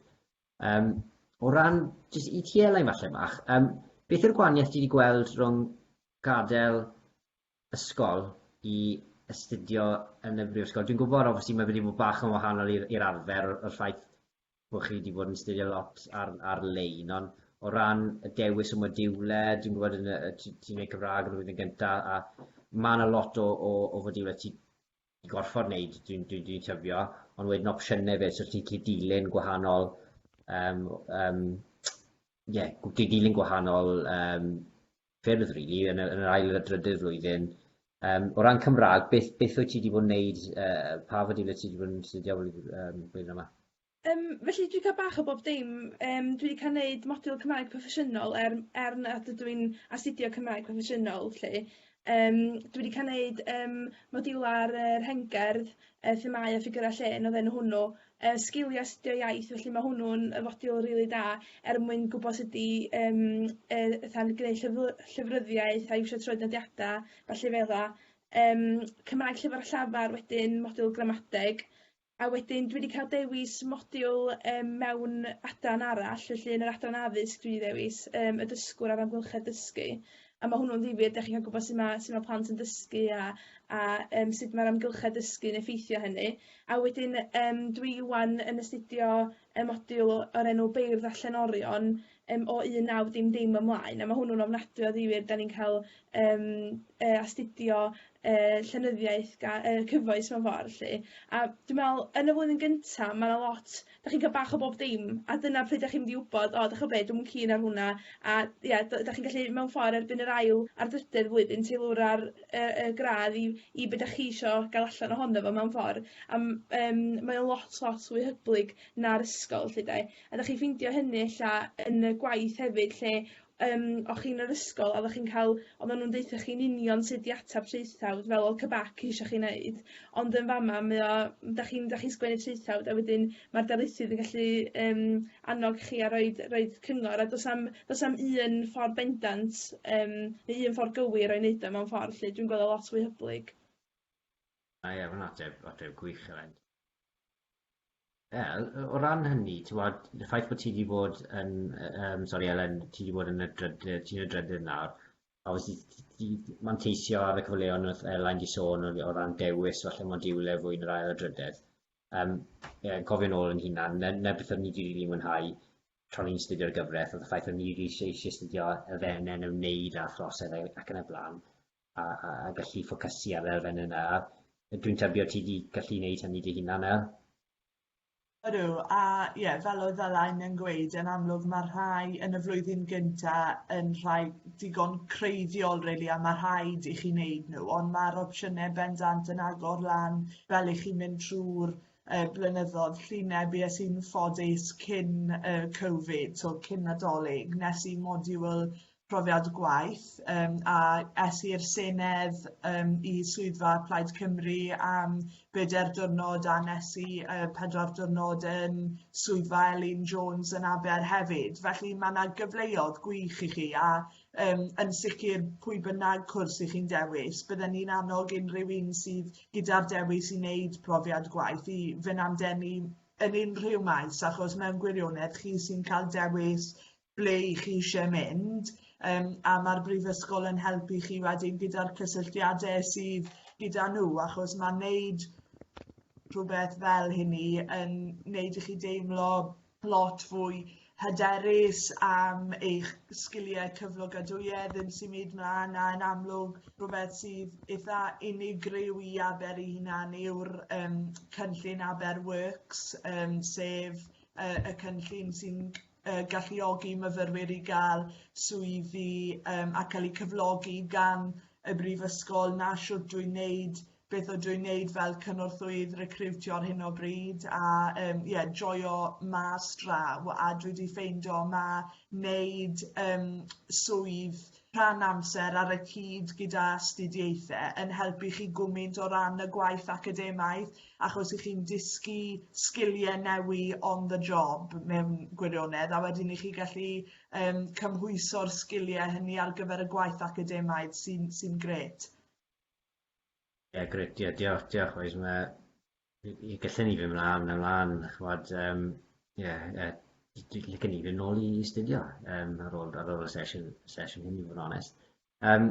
Yym o ran jyst i ti Elain falle bach yym beth yw'r gwanieth ti 'di gweld rhwng gadel ysgol i astudio yn y brifysgol. Dwi'n gwybod obviously mae fe 'di bod bach yn wahanol i'r i'r arfer o'r o'r ffaith bod chi 'di bod yn astudio lot ar ar-lein ond o ran y dewis y modiwle dwi'n gwybod yn y yy ti ti'n neud Cymrâg yn y flwyddyn gynta a ma' 'na lot o o o fodiwle ti i gorffod neud dwi'n dwi'n dwi'n tybio ond wedyn opsiyne fe so ti'n gallu dilyn gwahanol yym yym ie gw- di- dilyn gwahanol yym ffyrdd rili yn yr ail a drydydd flwyddyn. Yym o ran Cymraeg beth beth wyt ti 'di bod yn neud yy pa fodiwlau ti 'di bod yn astudio yym blwyddyn yma? Yym felly dwi ca'l bach o bob dim yym dwi 'di ca'l neud modiwl Cymraeg proffesiynol er m- er nad ydw i'n astudio Cymraeg proffesiynol 'lly yym dwi 'di ca'l neud yym modiwla'r yy rhengerdd yy themâu a ffigyrau llên odd enw hwnnw yy sgilie astudio iaith felly ma' hwnnw'n yy fodiwl rili da er mwyn gwbo sut i yym yy fatha gneud llyfly- llyfryddiaeth a iwsio troednodiada ballu fel 'a yym Cymraeg Llyfr a Llafar wedyn modiwl gramadeg a wedyn dwi 'di ca'l dewis modiwl yym mewn adran arall felly yn yr adran addysg dwi 'di ddewis yym y dysgwr a'r amgylchedd dysgu a ma' hwnnw'n ddifyr 'dach chi'n ca'l gwbo su' ma' su' ma' plant yn dysgu a a yym sut ma'r amgylchedd dysgu'n effeithio hynny. A wedyn yym dwi 'wan yn astudio y modiwl o- o'r enw Beirdd a Llenorion yym o un naw dim dim ymlaen a ma' hwnnw'n ofnadwy o ddifyr 'dan ni'n ca'l yym yy astudio yy llenyddiaeth ga- yy cyfoes mewn ffor 'lly a dwi me'wl yn y flwyddyn gynta ma' 'na lot 'dach chi'n ca'l bach o bob dim a dyna pryd 'dach chi'n mynd i wbod o 'dych ch'o' be' dwi'm yn keen ar hwnna a ia d- 'dach chi'n gallu mewn ffor erbyn yr ail a'r drydedd flwyddyn teilwra'r yy y gradd i i be' 'dach chi isio ga'l allan ohono fo mewn ffor a m- yym mae o lot lot fwy hyblyg na'r ysgol 'lly 'de? A 'dach chi'n ffeindio hynny ella yn y gwaith hefyd lle yym o' chi yn yr ysgol oddach chi'n ca'l oddan nw'n deutho chi'n union sud i atab traethawd fel odd Cybac isio chi neud ond yn fama mae o m- 'dach chi'n 'dach chi'n sgwennu traethawd a wedyn ma'r darlithydd yn gallu yym annog chi a roid roid cyngor a do's 'am do's 'am un ffor bendant yym neu un ffor gywir o'i neud o mewn ffor 'lly dwi'n gwel' o lot fwy hyblyg. Da iawn, ateb, ateb gwych Elen. Ie, o ran hynny, ti'n gwbod, y ffaith bod ti 'di bod yn yy yym sori Elen, ti 'di bod yn y drydydd, ti'n y drydydd nawr, a wyt ti ti ti manteisio ar y cyfleon wrth Elen 'di sôn o o ran dewis falle modiwle fwy yn yr ail a drydedd, yym ie yn cofio'n ôl yn hunan, 'na 'na beth o'n i 'di rili mwynhau tra o'n i'n astudio'r gyfret o'dd y ffaith o'n i eisie eisie astudio elfenne yn ymwneud â throsedd e- ac yn y bla'n. a, a, a gallu ffocysu ar elfen yna. Dwi'n tybio ti wedi gallu wneud hynny dy hunan nawr. Ydw, a ie, yeah, fel oedd Alain yn gweud, yn amlwg mae rhai yn y flwyddyn gynta yn rhai digon creiddiol, really, a mae rhaid i chi wneud nhw, ond mae'r opsiynau bendant yn agor lan fel i chi mynd trwy'r uh, blynyddoedd lluneb i sy'n ffodus cyn uh, Covid, so cyn nadolig, nes i modiwl profiad gwaith um, a es i'r Senedd um, i swyddfa Plaid Cymru am bedair dwrnod a nes i uh, pedwar dwrnod yn swyddfa Elin Jones yn Aber hefyd. Felly mae yna gyfleodd gwych i chi a um, yn sicr pwy bynnag cwrs i chi'n dewis, bydden ni'n annog unrhyw un sydd gyda'r dewis i wneud profiad gwaith i fynd am denu yn unrhyw maes achos mewn gwirionedd chi sy'n cael dewis ble 'y chi isie mynd yym a ma'r brifysgol yn helpu chi wedyn gyda'r cysylltiade sydd gyda nhw achos ma' neud rhywbeth fel hynny yn neud i chi deimlo lot fwy hyderus am eich sgiliau cyflogadwyedd yn symud mlan a yn amlwg rhywbeth sydd eitha unigryw i Aber ei hunan yw'r yym cynllun Aber Works yym sef yy y cynllun sy'n uh, galluogi myfyrwyr i gael swyddi um, a cael eu cyflogi gan y brifysgol na siwt dwi'n neud beth o dwi'n neud fel cynorthwydd recriwtio ar hyn o bryd a um, yeah, joio mas draw a dwi wedi ffeindio mae neud um, swydd rhan amser ar y cyd gyda astudiaethau yn helpu chi gwmynt o ran y gwaith academaidd achos i chi'n dysgu sgiliau newi on the job mewn gwirionedd a wedyn i chi gallu um, cymhwyso'r sgiliau hynny ar gyfer y gwaith academaidd sy'n sy gret. Ie, yeah, gret, ie, yeah, diolch, diolch, oes mae Ie gallen ni fyn' mlan a mlan ch'mod yym ie yy d- dwi licen i fyn' nôl i studio yym ar ôl ar ôl y sesiwn sesiwn hyn i fod yn onest. Yym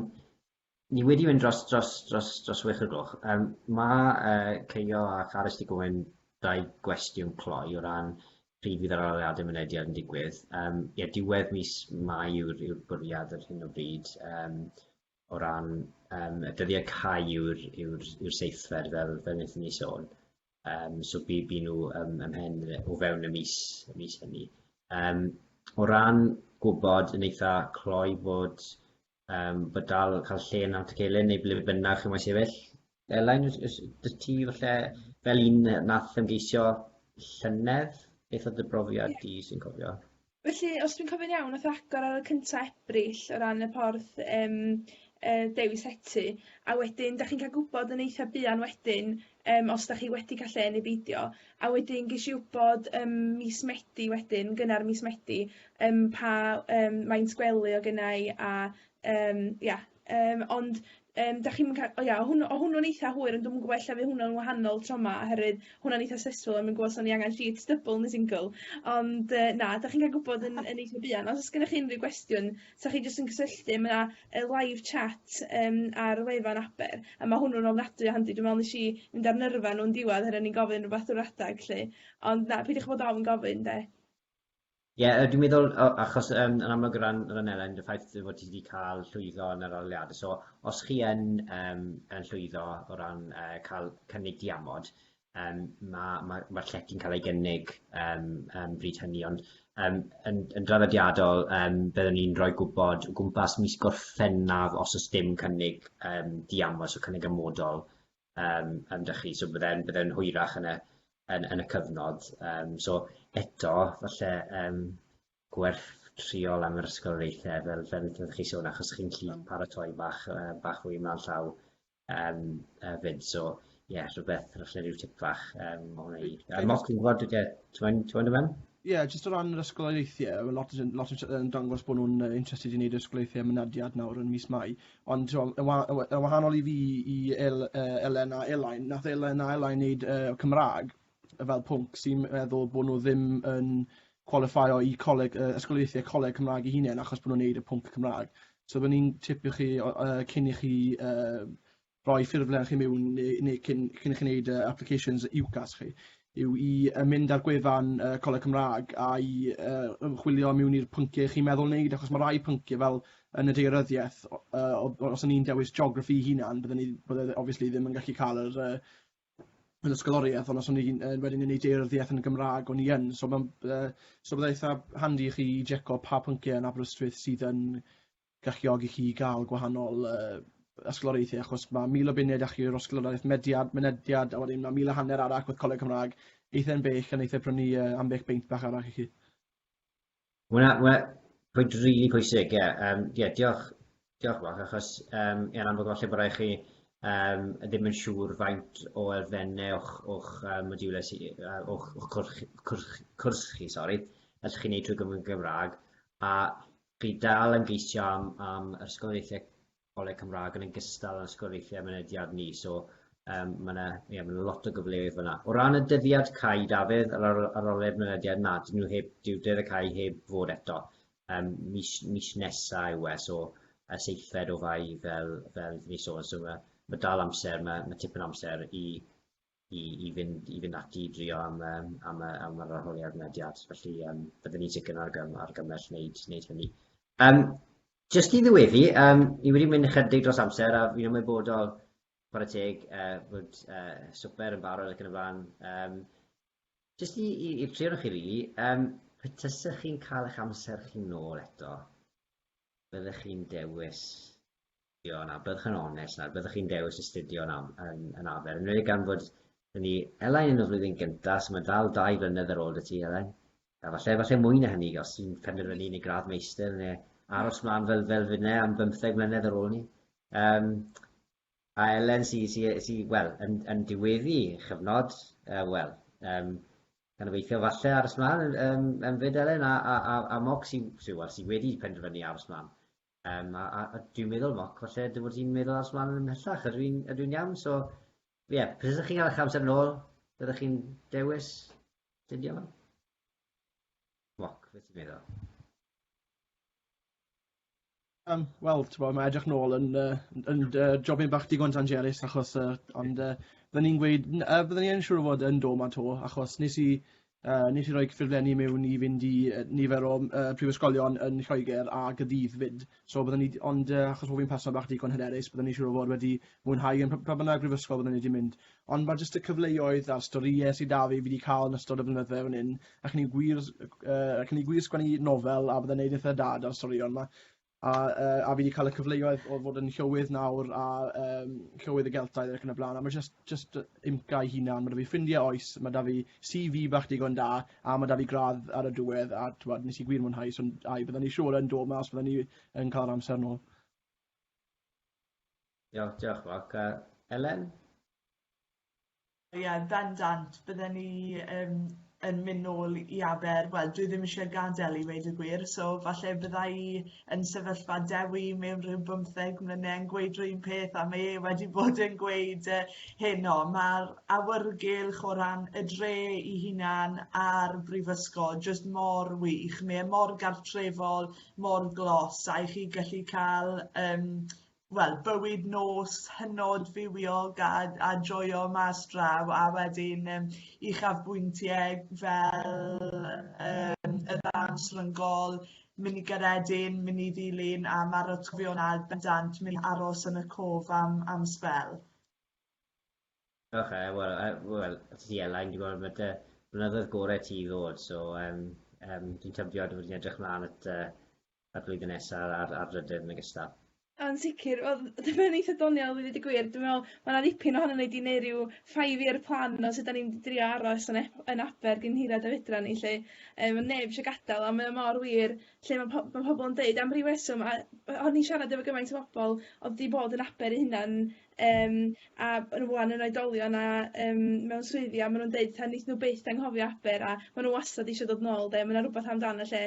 ni wedi mynd dros dros dros dros chwech o gloch yym ma' yy Keio a Carys 'di gofyn dau gwestiwn cloi o ran pryd fydd yr aroliade mynediad yn digwydd yym ie diwedd mis Mai yw'r yw'r bwriad ar hyn o bryd yym o ran um, y dyddiau cau yw'r yw yw seithfer fel, fel wnaethon ni sôn. Um, so bu, bu nhw um, ymhen o fewn y mis, y mis hynny. Um, o ran gwybod yn eitha cloi bod, um, bod dal cael lle yn Nant y Celyn neu ble bynnag chi moyn sefyll, Elain, ys, ys, dy ti falle fel un nath ymgeisio llynedd? Beth oedd dy brofiad yeah. di sy'n cofio? Felly, os dwi'n cofio'n iawn, oedd agor ar y cyntaf Ebrill o ran y porth um, e, dewis etu, a wedyn, da chi'n cael gwybod yn eitha buan wedyn um, os da chi wedi cael lle neu beidio, a wedyn ges i wybod um, mis Medi wedyn, gynnar mis Medi, um, pa um, maint gwely o gennau a um, yeah, Yym ond yym 'dach chi'm yn ca- o ia o hwnnw o hwnnw'n eitha hwyr ond dwi'm yn gwbo ella fy' hwnnw'n wahanol tro 'ma oherwydd hwnna'n eitha stressful o'n i'n gwbo' os o'n i angan sheets dybl ne' singl ond yy na 'dach chi'n ca'l gwbod yn yn eitha buan os o's gennoch chi unryw gwestiwn 'sach chi jyst yn cysylltu ma' 'na yy live chat yym ar wefan Aber a ma' hwnnw'n ofnadwy o handi dwi me'wl nesh i mynd ar nyrfa n'w yn diwadd er o'n i'n gofyn rwbath drw'r adag 'lly ond na peidiwch bod ofn gofyn 'de. Ie, dwi'n meddwl, achos yn amlwg o ran ran Elen, y ffaith dy fod ti 'di cael llwyddo yn yr arholiadau, so os chi yn yym yn llwyddo o ran yy cael cynnig diamod, yym ma' ma' ma'r llety'n cael ei gynnig yym yym bryd hynny, ond yym yn yn draddodiadol yym byddwn ni'n rhoi gwybod o gwmpas mis Gorffennaf os o's dim cynnig yym diamod, so cynnig amodol yym yym 'da chi, so bydde'n bydde'n hwyrach yn y yn yn y cyfnod yym so eto falle yym gwerth triol am yr ysgoloriaethe fel fel fel chi sôn achos chi'n gallu paratoi bach yy bach fwy mlan llaw yym yy 'fyd so ie rhywbeth falle ryw tip fach yym o hwnna i yy mock yn gwbod yy t'mod t'mod o fewn? Ie jyst o ran yr ysgoloriaethe ma' lot yn lot yn siar- yn dangos bo' nw'n yy interested i neud yr ysgoloriaethe mynediad nawr yn mis Mai Ond t'mo' yn wa- yn wa- yn wahanol i fi i El- yy Elen a Elain nath Elen a Elain neud yy Cymra'g yy fel pwnc sy'n meddwl bo' nw ddim yn cwalifeio i coleg yy ysgoliaethe coleg Cymra'g 'u hunen achos bo' nw'n neud y pwnc Cymra'g. So byddwn i'n tipio chi o- yy cyn i chi yy roi ffurflen chi miwn ne' ne' cyn cyn i chi neud yy applications i UCAS chi. yw i yy mynd ar gwefan yy Coleg Cymraeg a i yy ymchwilio mewn i'r pynciau chi'n meddwl wneud achos mae rhai pynciau fel yn y deiryddiaeth o- yy o- os o'n i'n dewis geography hunan bydden i bydde obviously ddim yn gallu cael yr yy yr ysgoloriaeth ond os o'n i'n yy wedyn yn ei deiryddiaeth yn y Gymraeg o'n i yn so ma'n yy so bydde eitha handi i chi jeco pa pynciau yn Aberystwyth sydd yn galluogi chi i ga'l gwahanol yy ysgoloriaethu achos ma' mil o buned allu yr osgoloriaeth mediad, mynediad a wedyn ma' mil a hanner arall wrth Coleg Cymra'g eitha'n bell a neith e prynu yy ambell beint bach arall i chi. Wel na wel pwynt rili really pwysig ie yym ie diolch diolch Mark achos yym ie yn amlwg falle bo rai chi yym ddim yn siŵr faint o elfenne o'ch o'ch yy modiwle sy yy o'ch o'ch cwrch cwrch cwrs chi sori allwch chi neud trwy gyfrwng y Gymra'g a Chi dal yn geisio am am yr ysgoloriaethe Coleg Cymraeg yn ogystal â'n ysgoloriaethe mynediad ni so yym ma' 'na ie ma' 'na lot o gyfleoedd fan'na. O ran y dyddiad cau Dafydd yr ar- arolwg mynediad na 'dyn nhw heb dyw dydd y cau heb fod eto yym mis mis nesa yw e so y seithfed o Fai fel fel 'dyn ni sôn so ma' ma' dal amser ma' ma' tipyn o amser i i i fynd i fynd ati i drio am yym am yy am yr arholiad mynediad felly yym byddwn ni'n sicr yn argym- argymell wneud wneud hynny. Yym jyst i ddiweddu yym ni wedi mynd ychydig dros amser a fi'n ymwybodol chware teg yy bod yy swper yn barod ac yn y blaen yym jyst i i i'r tri ohonoch chi rili yym pe tasech chi'n cael eich amser chi nôl eto byddech chi'n dewis Ie, na, byddwch yn onest nawr, byddwch chi'n dewis astudio yn yn arfer, yn enwedig gan fod yn ni Elain yn y flwyddyn gyntaf, so mae'n dal dau flynedd ar ôl dy ti Elain, a falle falle mwy na hynny os ti'n penderfynu yn y gradd meistr neu aros mlaen fel fel finne am bymtheg mlynedd ar ôl ni. Um, a Elen sy'n sy, sy, sy, wel, yn, yn diweddu chyfnod, uh, wel, um, gan obeithio falle aros mlaen um, yn fyd Elen a, a, a, a Moc sy'n sy, well, sy wedi penderfynu aros mlaen. Yym a a a dwi'n meddwl Mark falle dy fod ti'n meddwl ars mlan ymhellach ydw i'n ydw i'n iawn so ie pryd ydych chi'n cael eich amser nôl byddech chi'n dewis dydio fe? Mark beth ti'n meddwl? Yym wel t'bo' ma' edrych nôl yn yy yn yn dy jobyn bach digon dangerus achos yy ond yy bydden i'n gweud n- yy bydden i yn siŵr o fod yn do 'ma 'to achos nes i Uh, nes i roi ffurflenni mewn i fynd i uh, nifer o uh, prifysgolion yn Lloegr a gydydd fyd. So byddwn ni, ond uh, achos bod fi'n person bach digon hyderus, byddwn ni siŵr o fod wedi mwynhau yn pa bynnag brifysgol byddwn ni wedi mynd. Ond mae jyst y cyfleoedd a'r storïau sydd da fi wedi cael yn ystod y blynydde fan hyn, ac ni gwir, uh, ac ni gwir sgwennu nofel a byddwn gwneud eitha dad ar storion yma. A, uh, a fi wedi cael y cyfleoedd o fod yn llywydd nawr a um, llywydd y Geltaidd ac yn y blaen, a mae just, just imca i hunan, mae da fi ffrindiau oes, mae da fi CV bach digon da, a mae da fi gradd ar y diwedd, a twad, nes i gwir mwynhau, so, a i byddwn ni siŵr yn dod mas, byddwn ni yn cael amser nôl. Diolch, diolch, Mark. Uh, Elen? Ie bendant bydden ni yym yn myn' nôl i Aber wel dwi ddim isie gadel i weud y gwir so falle bydda i yn sefyllfa Dewi mewn rhyw bymtheg mlyne yn gweud r'un peth a mae e wedi bod yn gweud yy heno ma'r awyrgylch o ran y dre i hunan a'r brifysgol jyst mor wych mae e mor gartrefol mor glos a i chi gallu ca'l yym wel, bywyd nos hynod fywiog a a joio mas draw a wedyn yym uchafbwyntiau fel yym y ddawns ryngol, mynd i Gaeredin, mynd i ddilyn a ma'r atgofion ar bendant mynd i aros yn y cof am am sbel. Oce wel yy wel os ti Elain dwi'n gweld ma' dy blynyddoedd gore ti i ddod so yym yym dwi'n tybio dwi wedi edrych mlan at yy y flwyddyn nesa ar ar drydydd yn ogystal. Yn sicir wel dyma fe'n eitha doniol i ddeud y gwir dwi me'wl ma' 'na ddipyn ohonon ni 'di neu' ryw five year plan o sud 'dan ni'n drio aros yn ep- yn Aber gin hirad a fedra ni 'lly yym ma' neb isio gadal a mae o mor wir lle ma' po- ma' pobol yn deud am ryw reswm a yy o'n i'n siarad efo gymaint o bobol odd 'di bod yn Aber 'u hunan yym a yn ŵan yn oedolion a yym mewn swyddi a ma' nw'n deud 'ta neith nw byth anghofio Aber a ma' nw wastad isio dod nôl 'de ma' 'na rwbath amdan y lle.